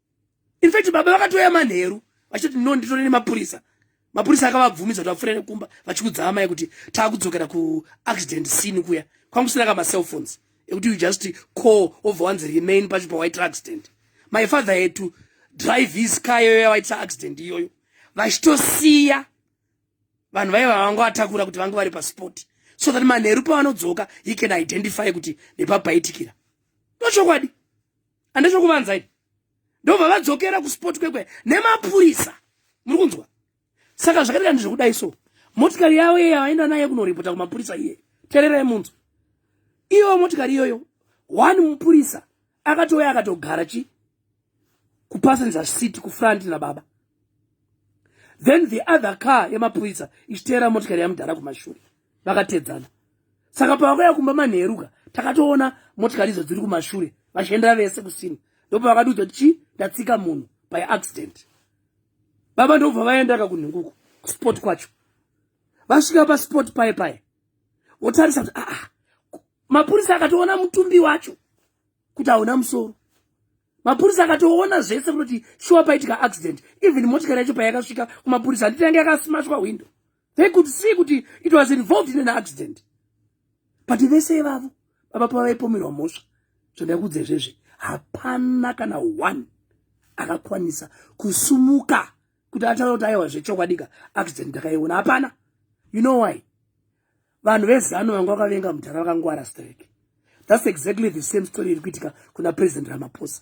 in fact baba vakatouya manheru vachiti no nditore nemapurisa mapurisa akavabvumidza kuti vapfuure nekumba vachikudza amai kuti taakudzokera kuaccident scene kuya kwanga kusina ka macellphones ekuti you just call obva wanzi remain pacho pawaitira accident my father had to drive his car iyoyo yawaitira accident iyoyo vachitosiya vanhu vaiva vanga vatakura kuti vange vari pasport so that manheru pavanodzoka he can identify kuti nepapaitikira ndochokwadi andisho kuvanza ipi ndobva vadzokera kusport kwekwe nemapurisa muri kunzwa saka zvakaita ndi zvekudai so motikari yavo iye yavaenda naye kunoripota kumapurisa iye tererai munzwa iyoyo motikari iyoyo one mupurisa akatouya akatogara chi kupassenger city kufront nababa then the other car yemapurisa ichiteera motikari yamudhara kumashure vakatedzana saka pavakauya kumba manheruka takatoona motikari idzo dziri kumashure vachiendera vese kusini ndopavakatiudza kuti chii ndatsika munhu by accident baba ndobva vaendaka kunhinguku kusport kwacho vasvika pasport paye paye votarisa kuti aa ah, ah, mapurisa akatoona mutumbi wacho kuti hauna musoro mapurisa akatoona zvese kunoti shuwa paitika accident even motikari yacho payakasvika kumapurisa handiti yange yakasimashwa hwindo they could see kuti it was involved in an accident but vese ivavo baba pavaipomerwa mhosva zvandakuudza izvezvi hapana kana one akakwanisa kusumuka kuti ataura kuti aiwa zvechokwadika accident ndakaiona hapana you know why vanhu vezano vanga vakavenga mudhara vakangwara strek thats exactly the same story iri kuitika kuna president ramaposa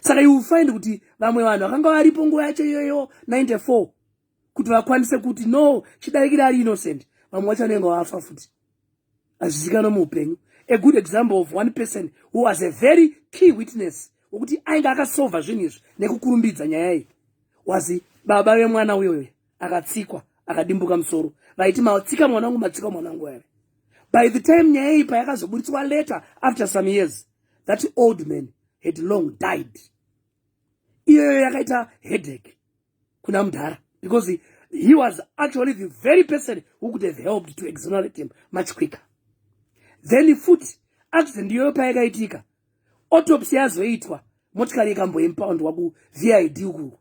saka you find kuti vamwe vanhu vakanga varipo nguva yacho iyoyo 94 kuti vakwanise kuti no chidarikiri ari innocent vamwe wacho vanenge vafa futi hazvizikanwa muupenyu a good example of one person who was a very key witness wekuti ainge akasova zvinhu izvi nekukurumbidza nyaya iyi was baba vemwana uyoyo akatsikwa akadimbuka musoro vaiti matsika mwana wangu matsika mwana wangu ave by the time nyaya iyi payakazoburitswa later after some years that old man had long died iyoyo yakaita headache kuna mudhara because he was actually the very person who could have helped to exonerate him much quicker then futi accident iyoyo payakaitika autopsy yazoitwa motikari ikamboimpaundwa kuvid uku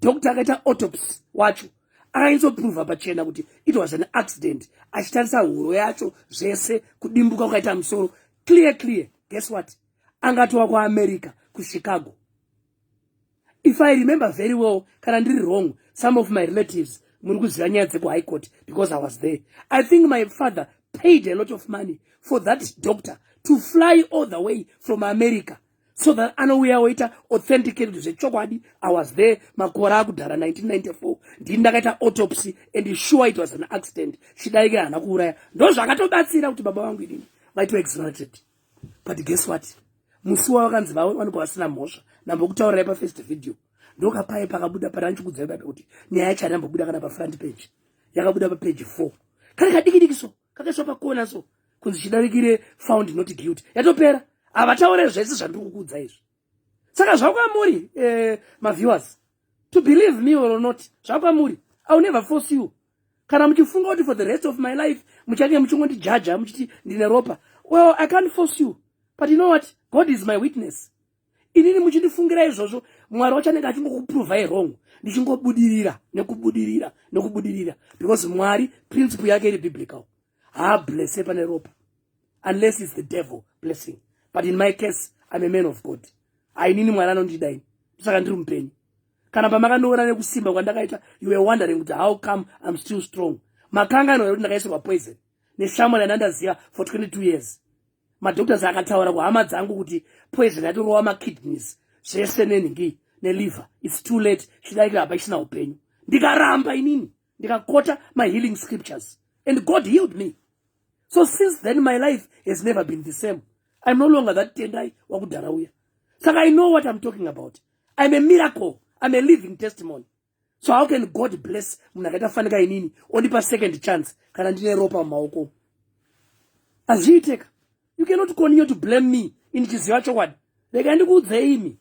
doctor akaita autopsy wacho akainzoprova pachena kuti it was an accident achitarisa huro yacho zvese kudimbuka kukaita musoro clear clear guess what angatowa kuamerica kuchicago if i remember very well kana ndiri wrong some of my relatives muri kuziva nyaya dzekuhigh court because i was there i think my father paid a lot of money for that doctor to fly all the way from america so that anouya oita authenticate zvechokwadi i was there makore akudhara 1994 ndini ndakaita autopsy and sure it was an accident chidaike haana kuuraya ndo zvakatobatsira kuti baba vangu inini vaitwa exonerated but guess what musi wavakanzi vavo vanobva vasina mhosva nambokutaurirai pafirst video ndokapaye pakabuda pana ndichikudzai baba kuti nyaya yacho hainambobuda kana pafront page yakabuda papage four kana kadikidiki so kakaiswa pakona so kunzi chidarikire found not guilty yatopera havataure zvese zvandiri kukuudza izvi saka zvakwamuri eh, maviewers to believe me or not zvakwamuri iwill never force you kana muchifunga kuti for the rest of my life muchange muchingondijaja muchiti ndine ropa well i can't force you but you know what god is my witness inini muchindifungira izvozvo mwari wacho anenge achingokuprovai wrong ndichingobudirira nekubudirira nekubudirira because mwari principle yake iri biblical haablesse pane ropa unless its the devil blessing but in my case im a man of god ainini mwari anondida ini ndosaka ndiri mupenyu kana pamakandiona nekusimba kwandakaita you were wondering kuti how come im still strong makanga anoa kuti ndakaisirwa poison neshamwari yandandaziva for 22 years madoctors akataura kuhama dzangu kuti poison yatorova makidneys zvese nenhingi neliver its too late chidaika hapa isina upenyu ndikaramba inini ndikakota mahealing scriptures and god healed me so since then my life has never been the same iam no longer that tendai wakudhara uya saka i know what iam talking about iam a miracle iam a living testimony so how can god bless munhu akaita fanika inini ondipa second chance kana ndine ropa mumaoko azviiteka you cannot continue to blame me ini chiziva chokwadi rega ndikuudzei imi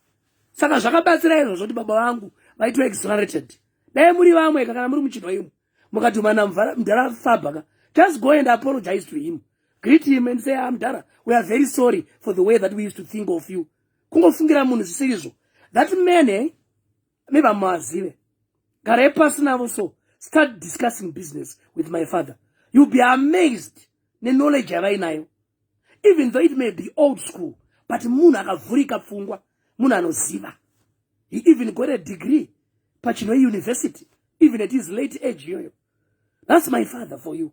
saka zvakabatsira izvo zvoti baba vangu vaitwa exonerated dai muri vamwe ka kana muri muchinwa imo mukadhumana mdhara fabaka just go and apologize to him greet him and say amdhara ah, we are very sorry for the way that we used to think of you kungofungira munhu zvisiri izvo that man eh? me vamazive garai pasi navo so start discussing business with my father you be amazed neknowledge yavainayo even though it may be old school but munhu akavhurika pfungwa munhu anoziva he even got a degree pachinoe university even at his late age iyoyo that's my father for you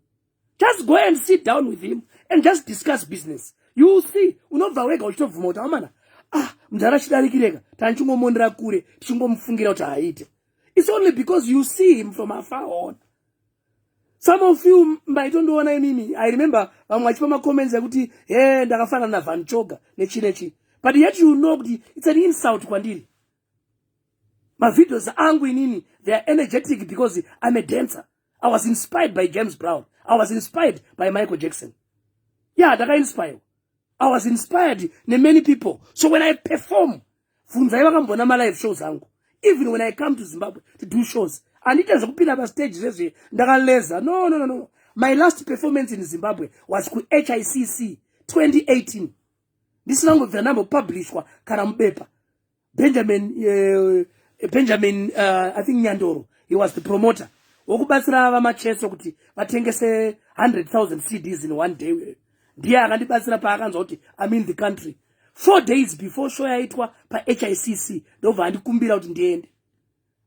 just go and sit down with him and just discuss business you will see unobva wega uchitobvuma kuti amana ah mudhara chidarikireka tandichingomondera kure tichingomufungira kuti haaite its only because you see him from afar on some of you maitondiona inini i remember vamwe vachipa macomments ekuti he ndakafanana navan choga nechi nechi but yet you know kuti its an insult kwandiri mavideos angu inini they are energetic because i'm a dancer i was inspired by james brown i was inspired by michael jackson ya yeah, ndakainspire i was inspired nemany people so when i perform funzai vakambona malive shows angu even when i come to zimbabwe to do shows andiite zvekupinda pastage zvezve ndakaleza no no no no my last performance in zimbabwe was kuhicc 2018 ndisina ngobvira ndambopublishwa kana mubepa benjamin uh, benjamin uh, i think nyandoro he was the promoter wokubatsira vamacheso kuti vatengese 100000 cds in one day ndiye akandibatsira paakanzwa kuti im in the country four days before show yaitwa pahicc ndobva andikumbira kuti ndiende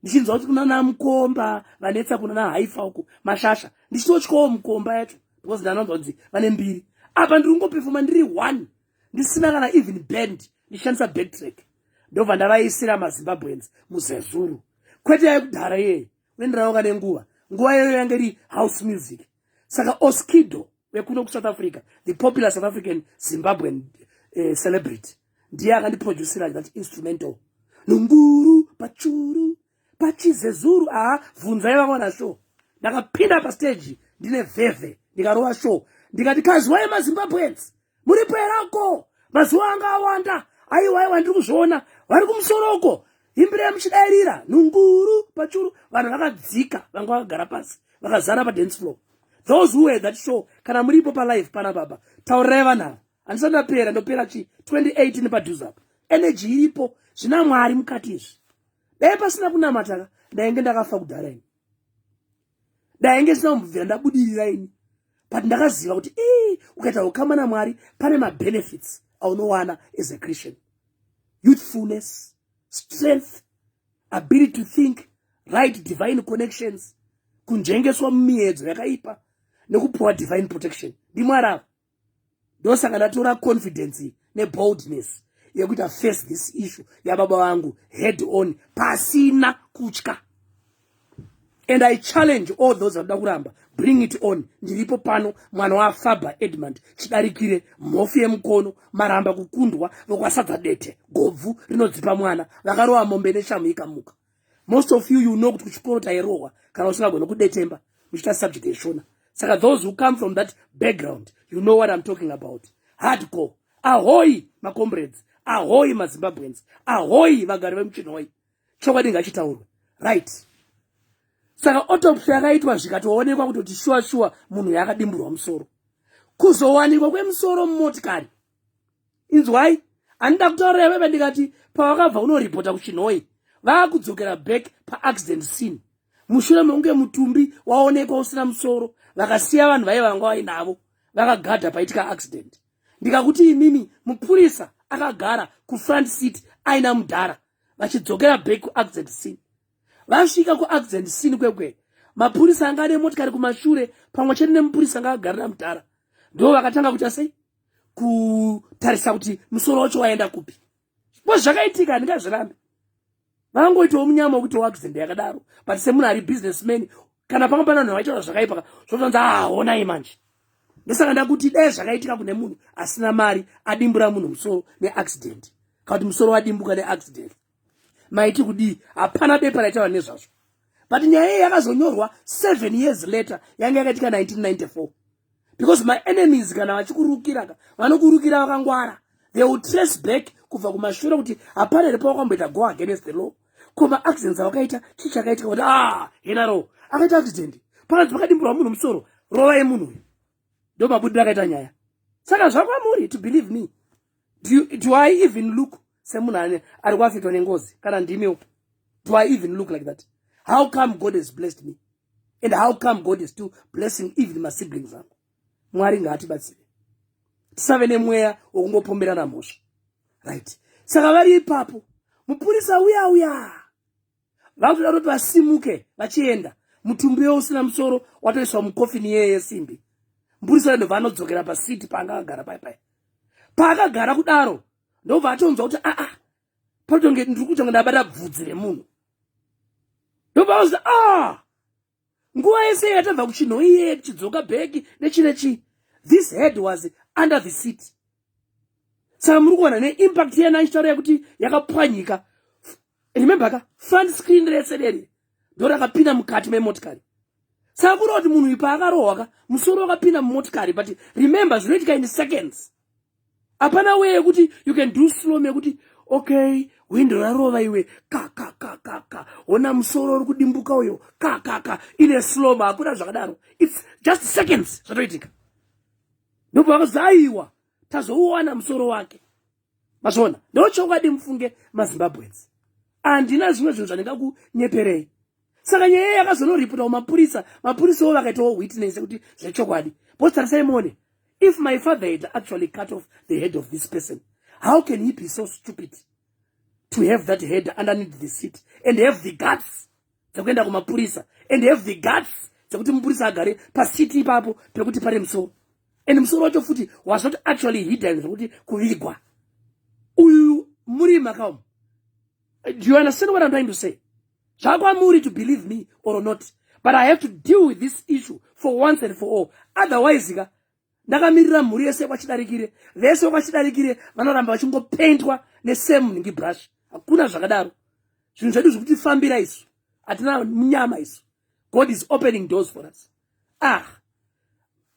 ndichinzwa kuti kunana mukomba vanetsa kunana haifa uku mashasha ndichitotyawo mukomba yacho because ndanonzwa kuti vane mbiri apa ndiri kungopefoma ndiri one ndisina kana even band ndishandisa backtrack ndobva ndavaisira mazimbabweans muzezuru kwete yayekudhara iyeyi uenderanoka nenguva nguva iyoyo yange iri house music saka oskido wekuno kusouth africa the popular south african zimbabwean uh, celebrity ndiye akandiproducira that instrumental nunguru pachuru pachizezuru aa vhunzai vakaona show ndakapinda pastage ndine vhevhe ndikarova show ndikati kazwai mazimbabweans muripo here uko mazuva anga awanda aiwa aiwa ndiri kuzviona vari kumusoro uko imbirei muchidairira nhunguru pachuru vanhu vakadzika vanga vakagara pasi vakazara padance floor those who had that show kana muripo palife pana baba taurirai vanhu ava handisati ndapera ndopera chi 2018 padhuze apa energy iripo zvina mwari mukati izvi dai pasina kunamataka ndainge ndakafa kudhara ini ndainge zvisina kumbubvira ndabudirira ini but ndakaziva kuti ii ukaita ukama namwari pane mabenefits aunowana as a christian youthfulness strength ability to think right divine connections kunjengeswa mumiedzo yakaipa nekupuwa divine protection ndimwari ava ndosaka ndatora confidence neboldness yekuita face this issue yababa vangu head on pasina kutya and i challenge all those vanoda kuramba bring it on ndiripo pano mwana wafaber edmund chidarikire mhofu yemukono maramba kukundwa vokwasadza dete gobvu rinodzipa mwana vakarova mombe neshamu ikamuka most of you you know kuti kuchikoro tairohwa kana usingagona kudetemba muchiita subject yeshona saka those who come from that background you know what i'm talking about hardcore ahoyi macombrades ahoyi mazimbabweans ahoyi vagari vemuchinhoyi chokwadi ngachitaurwe right saka autopsy yakaitwa zvikatoonekwa kutoti shuwa shuwa munhu yaakadimburwa musoro kuzowanikwa kwemusoro mumotikari inzwai handida kutaura iveve ndikati pavakabva kunoripota kuchinhoi vaakudzokera back paaccident scene mushure mekunge mutumbi waonekwa usina musoro vakasiya vanhu vaive vanga vainavo vakagadha paitika accident ndikakuti imimi mupurisa akagara kufront seat aina mudhara vachidzokera back kuaccident scene vasvika kuaccident scene kwekwe mapurisa anga ane motikari kumashure pamwe chete nemupurisa anga akagarira mudhara ndo vakatanga kuita sei kutarisa kuti musoro wacho waenda kupi bo zvakaitika handingazvirambe vangoitawo munyama wekuti waaccident yakadaro but semunhu ari business man kana panga pana vanhu vaitaura zvakaipa zvotonzi ahonai ah, manje ndosaka ndakuti dai zvakaitika kune munhu asina mari adimbura munhu musoro neaccident kana kuti musoro wadimbuka neaccident maiti kudii hapana bepa raitaura nezvazvo but nyaya iyi yakazonyorwa seven years later yange yakaitika 1994 because maenemies kana vachikurukiraka vanokurukira vakangwara they will trace back kubva kumashure kuti hapana here pawakamboita go against the law ko maaccidents awakaita chii chakaitika kuti ah hena ro akaita accident pakanzi pakadimburwa munhu musoro rova yemunhu uyu ndo mabudiro akaita nyaya saka zvakwamuri to believe me do, do i even look semunhu ane ari kuafitwa nengozi kana ndimiwo do i even look like that how come god has blessed me and how come god is still blessing even masiblings angu mwari ngaatibatsire tisave nemweya wokungopomberana mhosva right saka vari ipapo mupurisa uya uya vakutoda kuti vasimuke vachienda mutumbi we usina musoro watoiswa mukofini yeye yesimbi mupurisa uya ndobva anodzokera pasiti paanga akagara pai pai paakagara kudaro ndobva atonzwa kuti aa patotonge ndiri kutonge ndabata bvudzi remunhu ndobva auza a ah! nguva yese yatabva kuchinho iye tichidzoka bheki nechine chii this head was under the seat saka muri kuona neimpact yena ichitaura yekuti yakapwanyika remember ka front screen rese reri ndorakapinda mukati memotikari saka kureva kuti munhu ipa akarohwa ka musoro wakapinda mumotikari but remember zvinoitika in seconds hapana wee yekuti you can do slom yekuti okay hwindo rarova iwe kakakakaka hona musoro uri kudimbuka uyo kakaka ine slom hakuna zvakadaro its just seconds zvatoitika ndopavakazaiwa tazouwana musoro wake mazvona ndochokwadi mufunge mazimbabwens handina zvimwe zvinhu zvandingakunyeperei saka nyaya iya yakazonoripotwa kumapurisa mapurisawo vakaitawo witness kuti zvechokwadi bcause tarisai muone if my father had actually cut off the head of this person how can he be so stupid to have that head underneath the seat and have the guts dzekuenda kumapurisa and have the guts dzekuti mupurisa agare pasiti ipapo pekuti pane musoro and musoro wacho futi was not actually hidden zvekuti kuvigwa uyu muri makaum do you understand what i'm trying to say zvakwamuri to believe me or not but i have to deal with this issue for once and for all otherwise ka ndakamirira mhuri yese kwachidarikire vese vekwachidarikire vanoramba vachingopendwa nesame nhingi brush hakuna zvakadaro zvinhu zvedu zvikuti fambira isu hatina munyama isu god is opening doors for us ah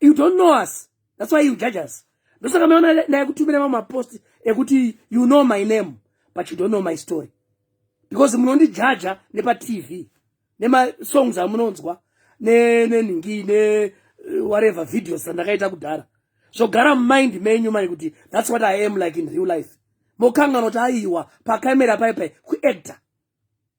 you don't know us that's why you judge us ndosaka maona naye kutumira mamwe mapost ekuti you know my name but you don't know my story because munondijaja nepatv nemasongs amunonzwa nenhingi ne, ne, ne Eh, whatever videos dzandakaita kudhara zvogara mumind menyu mani kuti thats what i am like in real life mokanganoti aiwa pacamera paipai kuactor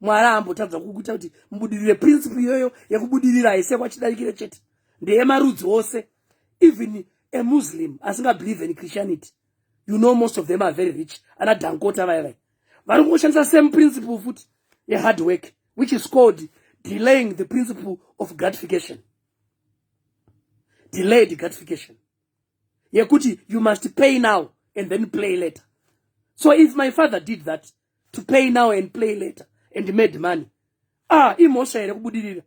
mwari aambotadza kukuita kuti mubudirire principle iyoyo yekubudirira haise kwachidarikire chete ndeyemarudzi ose even a muslim asingabelieve in christianity you know most of them are very rich ana dankota vaya vaya vari kungoshandisa same principle futi yehard work which is called delaying the principle of gratification delayed gratification yekuti you must pay now and then play later so if my father did that to pay now and play later and made money ah imhosva here kubudirira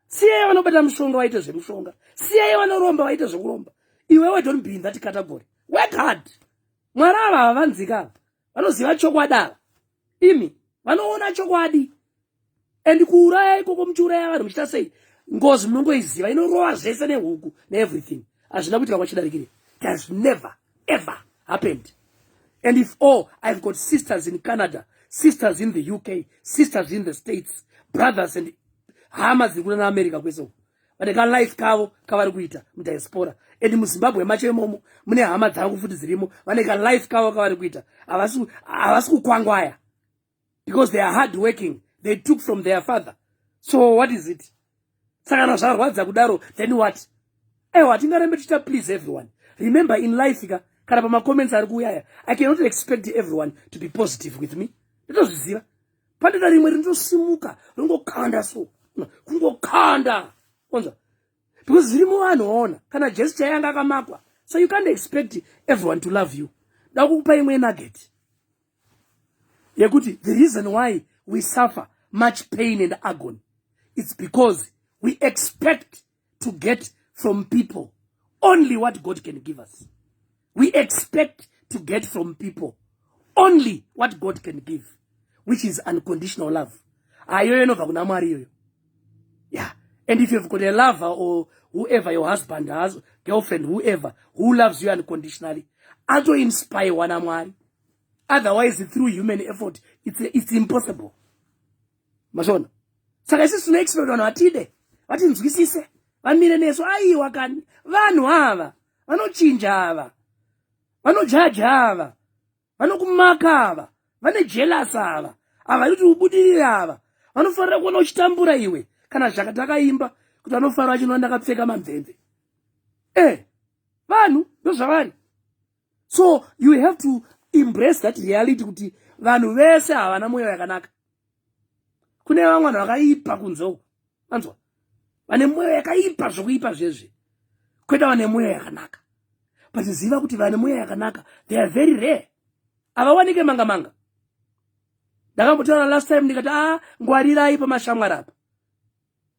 siyai vanobata mushonga vaite zvemushonga siyai vanoromba vaite zvekuromba iwewe don't be in that category work hard mwari ava havanzika ava vanoziva chokwadi ava imi vanoona chokwadi and kuuraya ikoko muchiuraya vanhu muchiita sei ngozi munongoiziva inorowa zvese nehuku neeverything hazvina kuitika kwachidarikire it has never ever happened and if all oh, i've got sisters in canada sisters in the uk sisters in the states brothers and hama dziri kuna naamerica kwese uku vane kalife kavo kavari kuita mudiaspora and muzimbabwe macho imomo mune hama dzangu futi dzirimo vane kalife kavo kavari kuita havasi kukwangwaya because they are hard working they took from their father so what is it saka kana zvarwadza kudaro then what ewa hatingarembe tichita please everyone remember in life ka kana pamacomments ari kuuyaya i cannot expect everyone to be positive with me nditozviziva pandida rimwe rinotosimuka ringokanda so kungokanda onzwa because zvirimo vanhu vaona kana jesu chaiye anga akamakwa so you can't expect everyone to love you dakukupa imwe nugget yekuti the reason why we suffer much pain and agony it's because we expect to get from people only what god can give us we expect to get from people only what god can give which is unconditional love ayoyo inobva kuna mwari iyoyo yeah and if you've got a lover or whoever your husband has girlfriend whoever who loves you unconditionally atoinspire wana mwari otherwise through human effort it's, it's impossible mazvona saka isi sino expect vanhu vatide vatinzwisise vamire nesu aiwa kani vanhu ava vanochinja ava vanojaja ava vanokumaka ava vane jelas ava ava kuti ubudirire ava vanofanira kuona uchitambura iwe kana zvaka takaimba kuti vanofanira vachinoa ndakapfeka mamvemve e eh, vanhu ndozvavari so you have to embrace that reality kuti vanhu vese havana mwoyo yakanaka kune vamwe vanhu vakaipa kunze uku vanzwa vane mwoyo yakaipa zvokuipa zvezve kweta vane mwoyo yakanaka but ziva kuti vane mwoyo yakanaka they are very rare havawanike manga manga ndakambotaura last time ndikati a ah, ngwarirai pamashamwari apa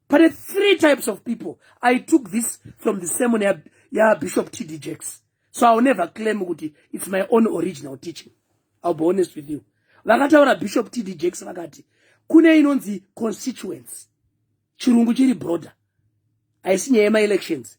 pane three types of people i took this from the sermon ya, ya bishop td jacks so iwill never claim kuti its my own original teaching iwill be honest with you vakataura bishop td jacks vakati kune inonzi constituency chirungu chiri broader haisi nyaya yemaelections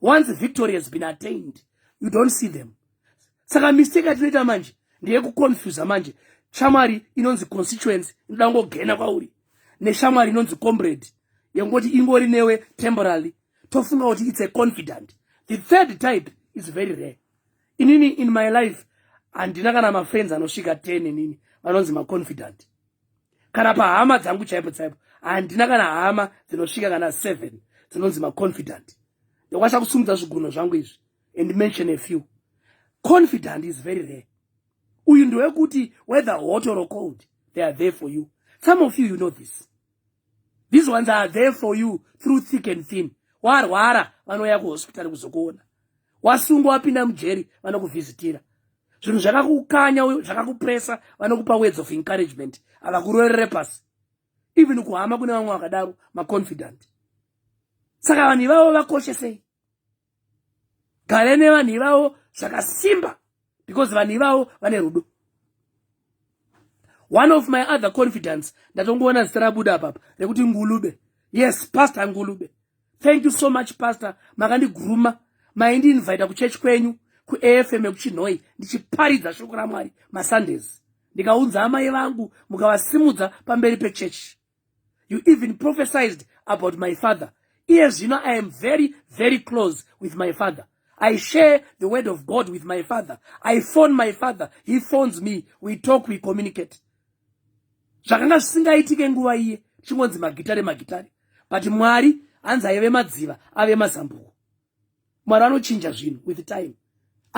once victory has been attained you don't see them saka mistake atinoita manje ndeyekuconfusa manje shamwari inonzi constituency inoda kungogena kwauri neshamwari inonzi comrade yekungoti ingori newe temporally tofunga kuti its a confident the third type is very rare inini in my life handina kana mafriends anosvika 10 inini vanonzi maconfident kana pahama dzangu chaipo chaipo handina kana hama dzinosvika kana seven dzinonzi maconfident ndokwanisa kusumudza zvigunho zvangu izvi and mention a few confident is very rare uyu ndewekuti whether hot or cold they are there for you some of you you know this these ones are there for you through thick and thin warwara vanouya kuhospitari kuzokuona wasungwa wapinda mujeri vanokuvhizitira zvinhu zvakakukanya uyo zvakakupresa vanokupa words of encouragement havakurorere pasi even kuhama kune vamwe vakadaro maconfident saka vanhu ivavo vakoshe sei gare nevanhu ivavo zvakasimba because vanhu ivavo vane rudo one of my other confidence ndatongoona zita rabuda apapa rekuti ngulube yes pastor ngulube thank you so much pastor makandiguruma maindiinvita kuchechi kwenyu kuafm ekuchinhoi ndichiparidza shoko ramwari masundays ndikaunza amai vangu mukavasimudza pamberi pechechi you even prophesized about my father iye zvino i am very very close with my father i share the word of god with my father i phone my father he phones me we talk we communicate zvakanga zvisingaitike nguva iye chingonzi magitare magitare but mwari hanzi aive madziva ave mazambuko mwari anochinja zvinhu with time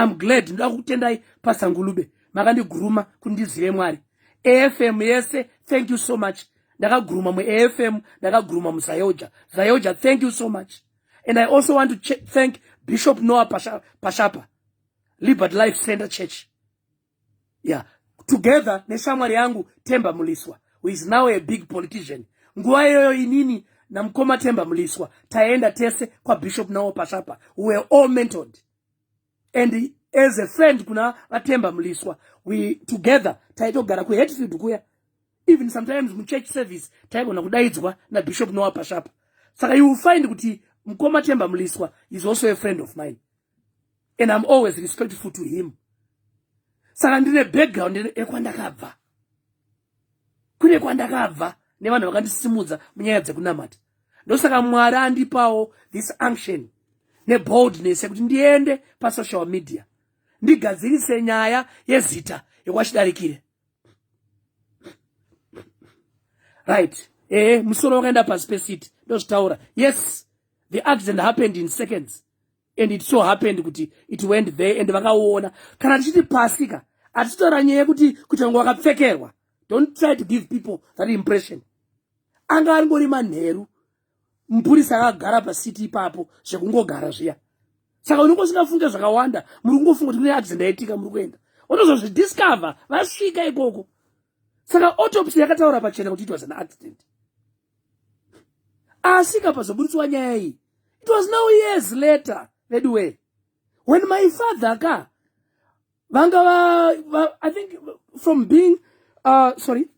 im glad ndoda kukutendai pasangulube makandiguruma kuti ndizive mwari afm yese thank you so much ndakaguruma muafm ndakaguruma muzayoja zayoja thank you so much and i also want to thank bishop noah pashapa liberty life center church yeah together neshamwari yangu Temba Muliswa who is now a big politician nguva iyoyo inini namukoma Temba Muliswa taenda tese kwaBishop Nawo Pashapa we were all mentored and as a friend kuna vaTemba Muliswa we together taitogara kuHatfield kuya even sometimes muchurch service taigona kudaidzwa naBishop Noah Pashapa saka you will find kuti mukoma Temba Muliswa is also a friend of mine and I'm always respectful to him saka ndine background ekwandakabva kune kwandakabva nevanhu vakandisimudza munyaya dzekunamata ndosaka mwari andipawo this unction neboldness yekuti ndiende pasocial media ndigadzirise nyaya yezita yekwachidarikire right ehe musoro wakaenda pasi pesiti ndozvitaura yes the accident happened in seconds and it so happened kuti it went there and vakaona kana tichiti pasi ka hatitaura nyaya yekuti kuti vanga vakapfekerwa don't try to give people that impression anga angori manheru mupurisi akagara pasiti ipapo zvekungogara zviya saka unenge usingafunge zvakawanda muri kungofunga kuti kune accident yaitika muri kuenda unozozvidiscover vasvika ikoko saka autopsy yakataura pachena kuti it was an accident asi kapazoburitswa nyaya iyi it was now years later veduwee when my father ka vanga va, va i think from being uh, sorry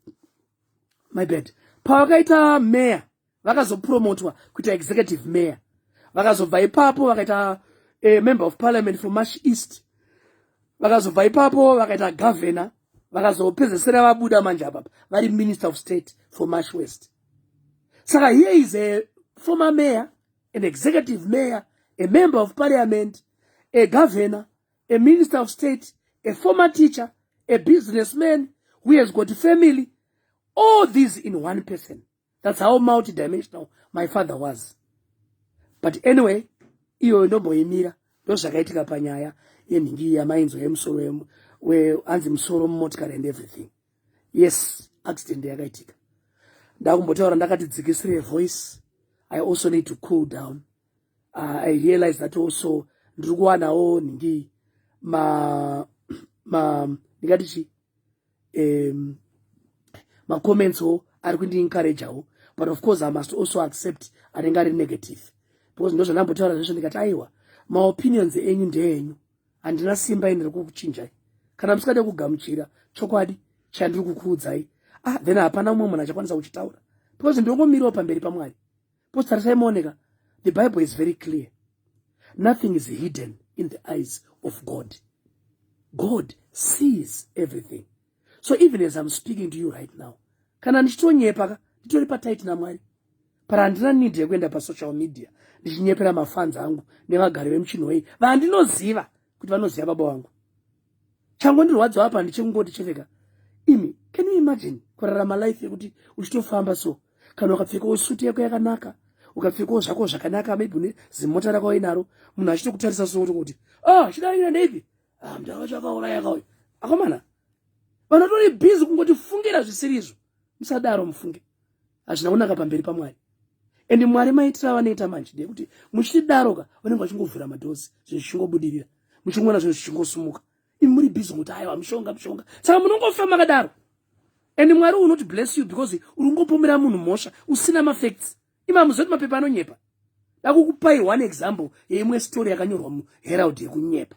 my bad pavakaita mayor vakazopromotwa kuita executive mayor vakazobva ipapo vakaita a eh, member of parliament from mash east vakazobva ipapo vakaita governor vakazopedzesera vabuda manje apapa vari minister of state for mash west saka here is a former mayor an executive mayor a member of parliament a governor a minister of state a former teacher a businessman who has got family all these in one person that's how multidimensional my father was but anyway iyoyo ndomboimira ndozvakaitika panyaya yenhingi iyi yamainzwa yemusoro weanzi musoro mumotikari and everything yes accident yakaitika ndakumbotaura ndakati dzikisire voice i also need to cool down uh, i realize that also ndiri kuwanawo nhingi ma ma ndingati chii um, macomments wo ari kundiencourageawo but of course i must also accept anenge ari negative because ndozvandambotaura zvesvo ndikati aiwa maopinions enyu ndeenyu handina simba ini rekukuchinjai kana musingade kugamuchira chokwadi chandiri kukuudzai ah then hapana umwe munhu achakwanisa kuchitaura because ndongomirawo pamberi pamwari Because tarisai mooneka, the Bible is very clear. Nothing is hidden in the eyes of God. God sees everything. So even as I'm speaking to you right now, kana ndichitonyepa ka nditori pataiti namwari para handina need yekuenda pasocial media ndichinyepera mafanzi angu nevagari vemuchinhoyi vandinoziva kuti vanoziva baba vangu changondirwadza apa ndichekungoti cheveka imi can you imagine kurarama life yekuti uchitofamba so kana ukapfekawo suti yako yakanaka ukapfekawo zvako zvakanaka maybe une zimota rako wainaro munhu achitokutarisa so kuti ah chidaira ndeipi ah mndu akacho akaurayaka uyu akomana vanotori busy kungoti fungira zvisirizvo musadaro mufunge hazvina kunaka pamberi pamwari and mwari maitira vanoita manje ndeyekuti muchidaroka vanenge vachingovhura madhozi zvinhu zvichingobudirira muchingoona zvinhu zvichingosumuka imi muri bizi kuti aiwa mushonga mushonga saka munongofa makadaro and mwari unoti bless you because uri kungopomera munhu mhosva usina mafacts imi hamuzoti mapepa anonyepa dakukupai one example yeimwe story yakanyorwa muherald yekunyepa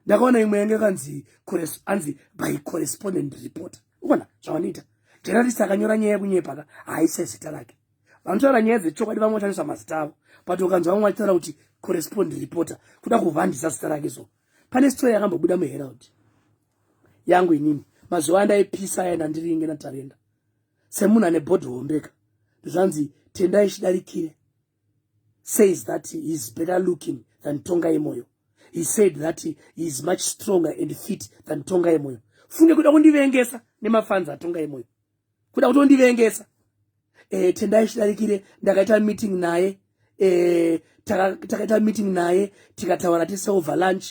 ndakaona imwe yange kanzi anzi by correspondent reporter uona zvavanoita journalist akanyora nyaya yekunyepa ka haise zita rake vanotaura nyaya dzechokwadi vamwe vachaniswa mazita avo but ukanzwa vamwe vachitaura kuti correspond reporter kuda kuvandisa zita rake so pane story yakambobuda muherald yangu inini mazuva andaipisa aya ndandiringe natarenda semunhu ane body hombeka ndozvanzi tendai chidarikire says that he is better looking than tonga yemoyo he said that he is much stronger and fit than tonga yemoyo funge kuda kundivengesa nemafanzi atonga yemoyo kuda kutondivengesa e, tendai chidarikire ndakaita meeting naye eh, takaita meeting naye tikataura tiseover lunch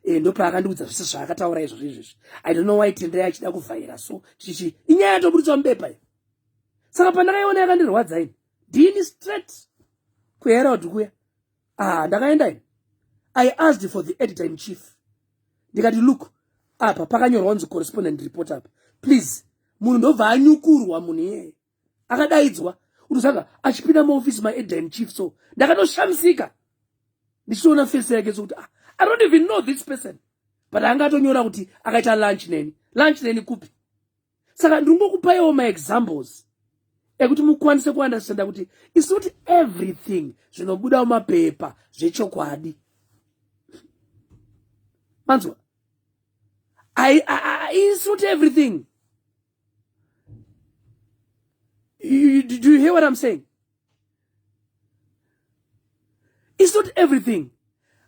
eh, ndopaakandiudza zvese zvaakataura izvozvo izvezvi i don't know why tendai achida kuvhaira so chichi inyaya yatoburitswa mubepa i saka pandakaiona yakandirwadza ini ndini straight kuherod kuya ah ndakaenda ini i asked for the editor in chief ndikati look apa pakanyorwa kunzi correspondent report apa please munhu ndobva anyukurwa munhu iyeye akadaidzwa unosanga achipinda muoffice maeda in chief so ndakatoshamisika ndichitoona face yake sokuti ah, i don't even know this person but anga atonyora kuti akaita lunch neni lunch neni kupi saka ndingokupaiwo maexamples ekuti mukwanise kuunderstanda kuti isi kuti everything zvinobuda mumapepa zvechokwadi manzwa isi kuti everything You, do you hear what I'm saying? It's not everything.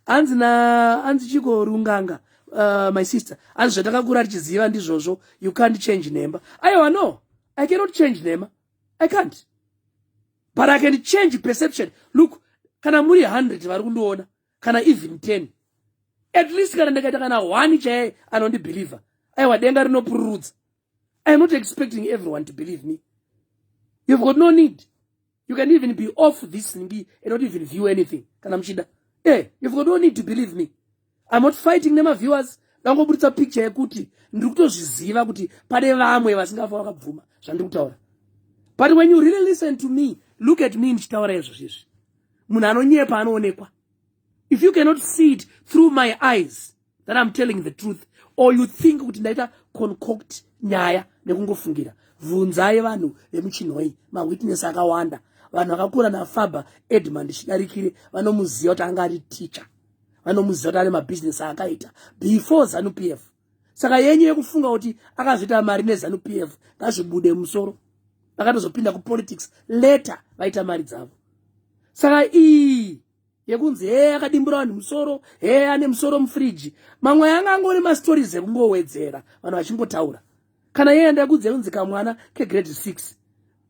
Hanzi na hanzi chiko runganga uh, my sister. Hanzi zvatakakura tichiziva ndizvozvo you can't change nhemba. Aiwa no. I cannot change nhema. I can't. But I can change perception. Look, kana muri 100 vari kundiona kana even 10 at least kana ndakaita kana one chaye anondibhilivha aiwa denga rinopururudza iam not expecting everyone to believe me you've got no need you can even be off this ngi and not even view anything kana muchida e eh, you've got no need to believe me iam not fighting nemaviewers ndangoburitsa picture yekuti ndiri kutozviziva kuti pane vamwe vasingafa vakabvuma zvandiri kutaura but when you really listen to me look at me ndichitaura izvozvo izvi munhu anonyepa anoonekwa if you cannot see it through my eyes that i'm telling the truth or you think kuti ndaita concoct nyaya nekungofungira vhunzai vanhu vemuchinhoi mawitness akawanda vanhu vakakura nafaba edmund chidarikire vanomuziva kuti anga ari teacher vanomuziva kuti ane mabhizinesi aakaita before zanu p f saka yenyu yekufunga kuti akazviita mari nezanu p f ngazvibude musoro vakatozopinda kupolitics later vaita mari dzavo saka iyi yekunzi hee akadimbura vanhu musoro hee ane musoro mufriji mamwe yanga angori mastories ekungowedzera vanhu vachingotaura kana yeye ndakunzi yekunzi kamwana kegrade six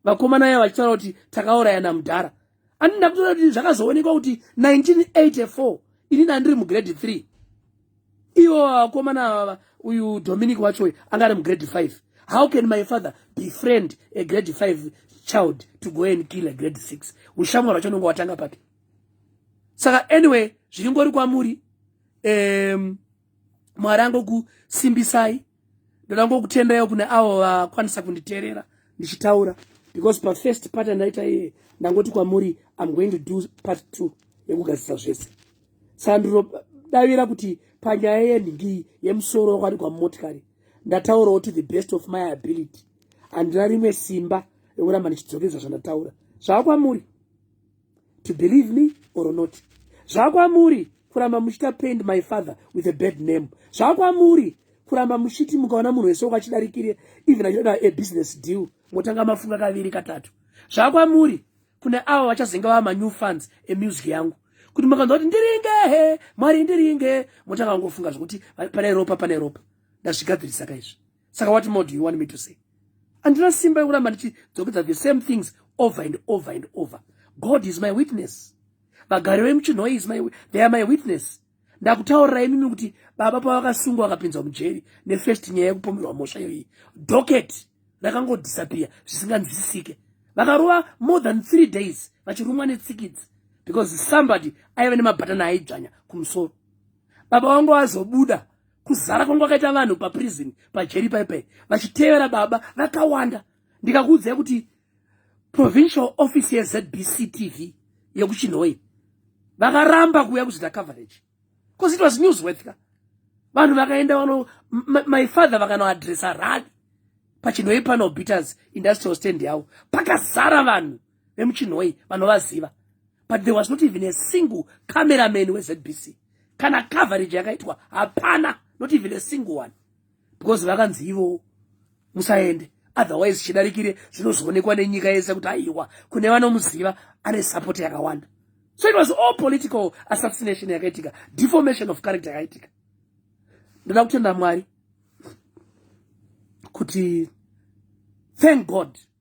vakomana yavo vachitaura kuti takaurayana mudhara ani ndakutoda kuti zvakazoonekwa kuti 1984 ini ndandiri mugrade 3 ivo vakomana vava uyu dominic wachoyo anga ari mugrade 5 how can my father befriend a grade 5 child to go and kill a grade 6 ushamwa rwacho unonge watanga papi saka anyway zviri ngori kwamuri um, mwari angokusimbisai ndoda ngokutendaiwo kune avo vakwanisa kunditerera ndichitaura because pafirst part andaita iye ndangoti kwamuri im going to do part two yekugadzisa zvese saka ndinodavira kuti panyaya yenhingi yemusoro wakwadi kwamumotikari ndataurawo to the best of my ability handina rimwe simba rekuramba ndichidzokeza zvandataura zvaakwamuri to believe me or not zvakwamuri kuramba muchita paint my father with a bad name zvakwamuri kuramba muchiti mukaona munhu wese ukachidarikire even achida a business deal motanga mafunga kaviri katatu zvakwamuri kune avo vachazenge vava manew funds emusic yangu kuti makanzwa kuti ndiringehe mwari ndiringe motanga kungofunga zvekuti pane ropa pane ropa ndazvigadzirisa kaizvi saka what more do you want me to say andina simba yekuramba ndichidzokeza the same things over and over and over god is my witness vagari vemuchinhoi is my they are my witness ndakutaurira imimi kuti baba pavakasungwa vakapinzwa mujeri nefirst nyaya yekupomerwa mhosva iyoyi docket rakangodisappear zvisinganzwisisike vakarova more than three days vachirumwa netsikidzi because somebody aive nemabhatani aidzvanya kumusoro baba vangu vazobuda kuzara kwangu akaita vanhu paprison pajeri paipai vachitevera baba vakawanda ndikakuudzai kuti provincial office yezbc tv yekuchinhoi vakaramba kuuya kuzita coverage bcause it was news worth ka vanhu vakaenda vano my father vakanoadressa rally pachinhoi pano beaters industrial stand yavo pakazara vanhu vemuchinhoyi vanovaziva but there was not even a single cameraman wezbc kana coverage yakaitwa hapana not even a single one because vakanzi ivowo musaende otherwise chidarikire zvinozoonekwa nenyika yese kuti aiwa kune vanomuziva ane support yakawanda so it was all political assassination yakaitika deformation of character yakaitika ndoda kutenda mwari kuti thank god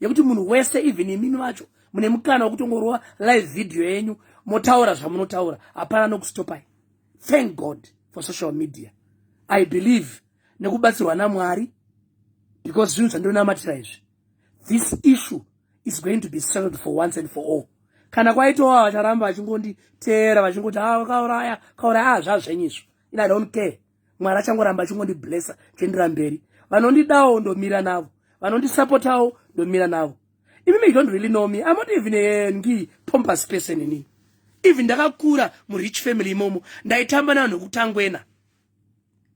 yekuti munhu wese even imimi vacho mune mukana wekutongorova live video yenyu motaura zvamunotaura hapana nokustopai thank god for social media i believe nekubatsirwa namwari because zvinhu zvandinonamatira izvi this issue is going to be settled for once and for all kana kwaitowa vacharamba vachingonditeera vachingoti ha ah, kauraya kauraya a ah, zvazvenyizvo in i don't care mwari achangoramba achingondiblessa tiendera mberi vanondidawo ndomira navo vanondisapotawo ndomira navo even you don't really know me i'm not even a ngi pompous person ini even ndakakura murich family imomo ndaitamba navanhu vekutangwena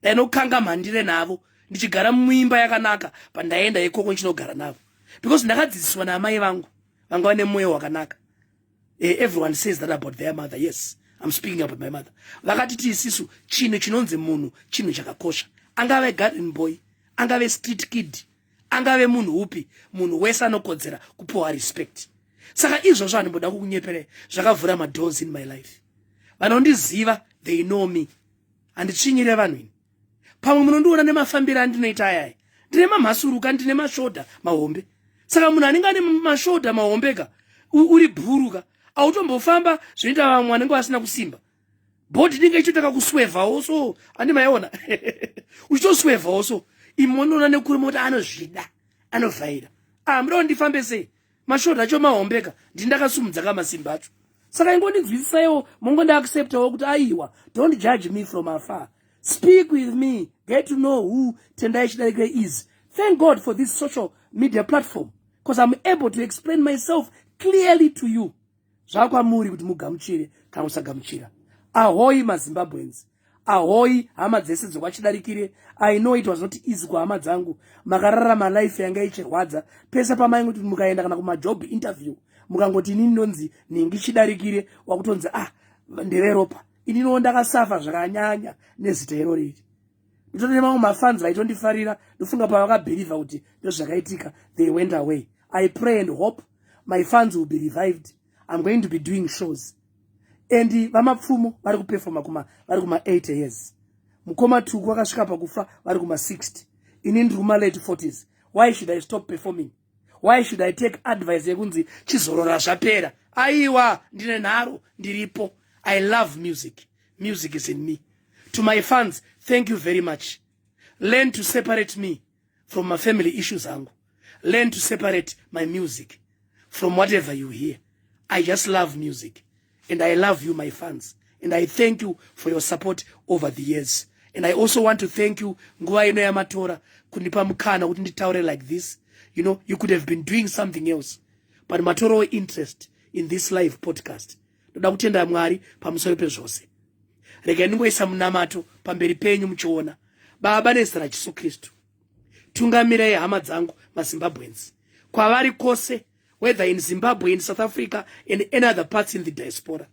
ndainokanga mhandire navo ndichigara muimba yakanaka pandaienda ikoko ndichinogara navo because ndakadzidziswa naamai vangu vanga vane mwoyo wakanaka eh, everyone says that about their mother yes I'm speaking about my mother vakati tiisisu chinhu chinonzi munhu chinhu chakakosha angave garden boy angave street kid angave munhu upi munhu wese anokodzera kupiwa respect saka izvozvo handimboda kukunyeperei zvakavhura madoors in my life vanondiziva they know me handitsvinyire vanhu ini pamwe munondiona nemafambiro andinoita ayaya ndine mamhasuruka ndine mashoda mahombe saka munhu anenge ane mashoda mahombeka uri bhuruka autombofamba zvinoita vamwe vanenge vasina kusimba bhodhi inenge ichitotaka kuswevhawo so andi maiona uchitoswevhawo so imonoona nekuri moti anozvida anovhaira amuda ah, kundifambe sei mashort acho mahombeka ndindakasumudza kamasimba acho saka ingondinzwisisaiwo mongondiacceptawo kuti aiwa don't judge me from afar speak with me get to know who tendai chidarike is thank god for this social media platform because i'm able to explain myself clearly to you zvakwamuri kuti mugamuchire kana kusagamuchira ahoyi mazimbabweans ahoyi hama dzese dzokwachidarikire i know it was not easy kuhama dzangu makararama life yanga ichirwadza pese pamainge kuti mukaenda kana kumajob interview mukangoti inini ndonzi nhingi chidarikire wakutonzi ah ndeveropa ininowo ndakasafa zvakanyanya nezita iro riri nditone nemamwe mafans vaitondifarira ndofunga pavakabhirivha kuti ndozvakaitika they went away i pray and hope my fans will be revived i'm going to be doing shows and vamapfumo vari kupefoma kuma vari kuma 8 years mukoma tuku vakasvika pakufa vari kuma 60 ini ndiri kuma late 40s why should i stop performing why should i take advice yekunzi chizorora zvapera aiwa ndine nharo ndiripo i love music music is in me to my fans thank you very much learn to separate me from my family issues angu learn to separate my music from whatever you hear i just love music and i love you my fans and i thank you for your support over the years and i also want to thank you nguva ino yamatora kundipa mukana kuti nditaure like this you know you could have been doing something else but matorowo interest in this live podcast ndoda kutenda mwari pamusoro pezvose regai ndingoisa munamato pamberi penyu muchiona baba nezita rajesu kristu tungamirai hama dzangu mazimbabwenzi kwavari kwose whether in zimbabwe in south africa and any other parts in the diaspora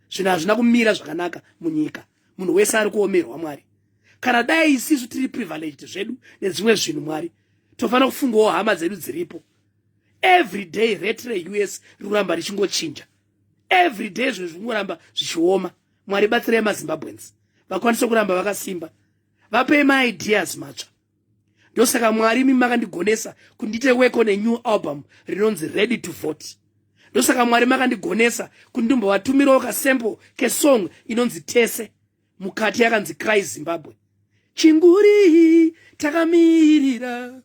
zvinhu hazvina kumira zvakanaka munyika munhu wese ari kuomerwa mwari kana dai isisu tiri privileged zvedu nedzimwe zvinhu mwari tofanira kufungawo hama dzedu dziripo every day rate reus riruramba richingochinja every day zvinhu zvingoramba zvichioma mwari batsirai mazimbabwens vakwanise kuramba vakasimba vapei maideas matsva ndosaka mwari imi makandigonesa kundite work on a new album rinonzi ready to vote ndosaka mwari makandigonesa kuti ndimbovatumirawo kasample kesong inonzi tese mukati yakanzi cry zimbabwe chinguri takamirira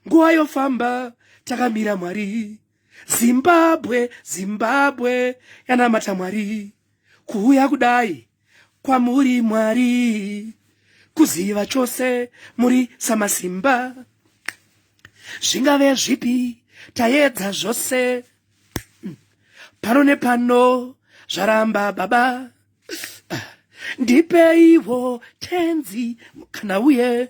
nguva yofamba takamira mwari zimbabwe zimbabwe yanamata mwari kuuya kudai kwamuri mwari kuziva chose muri samasimba zvingave zvipi tayedza zvose pano nepano zvaramba baba ndipeiwo tenzi kana uye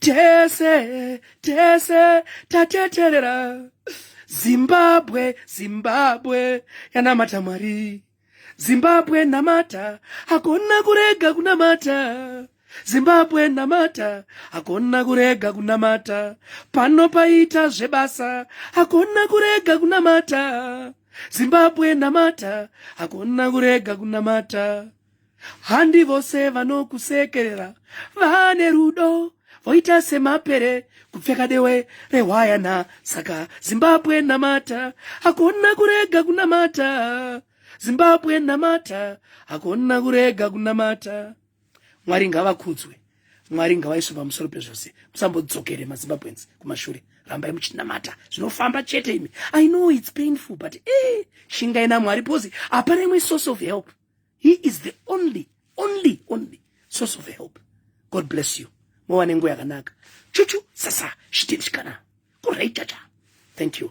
tese tese tateterera zimbabwe zimbabwe yanamata mwari zimbabwe namata hakona kurega kunamata zimbabwe namata hakona kurega kunamata pano paita zvebasa hakona kurega kunamata zimbabwe namata hakona kurega kunamata Handi vose vanokusekerera vane rudo voita semapere kupfeka dewe rehwayana saka zimbabwe namata hakuna kurega kunamata zimbabwe namata hakuna kurega kunamata mwari ngavakudzwe mwari ngavaiswe pamusoro pezvose musambodzokere mazimbabwens kumashure rambai muchinamata zvinofamba chete imi i know its painful but e eh, shingai namwari pose hapana imwe source of help He is the only, only, only source of help. God bless you. Mwana nguya kanaka. Chuchu sasa shitishkana. Kurai chacha. Thank you.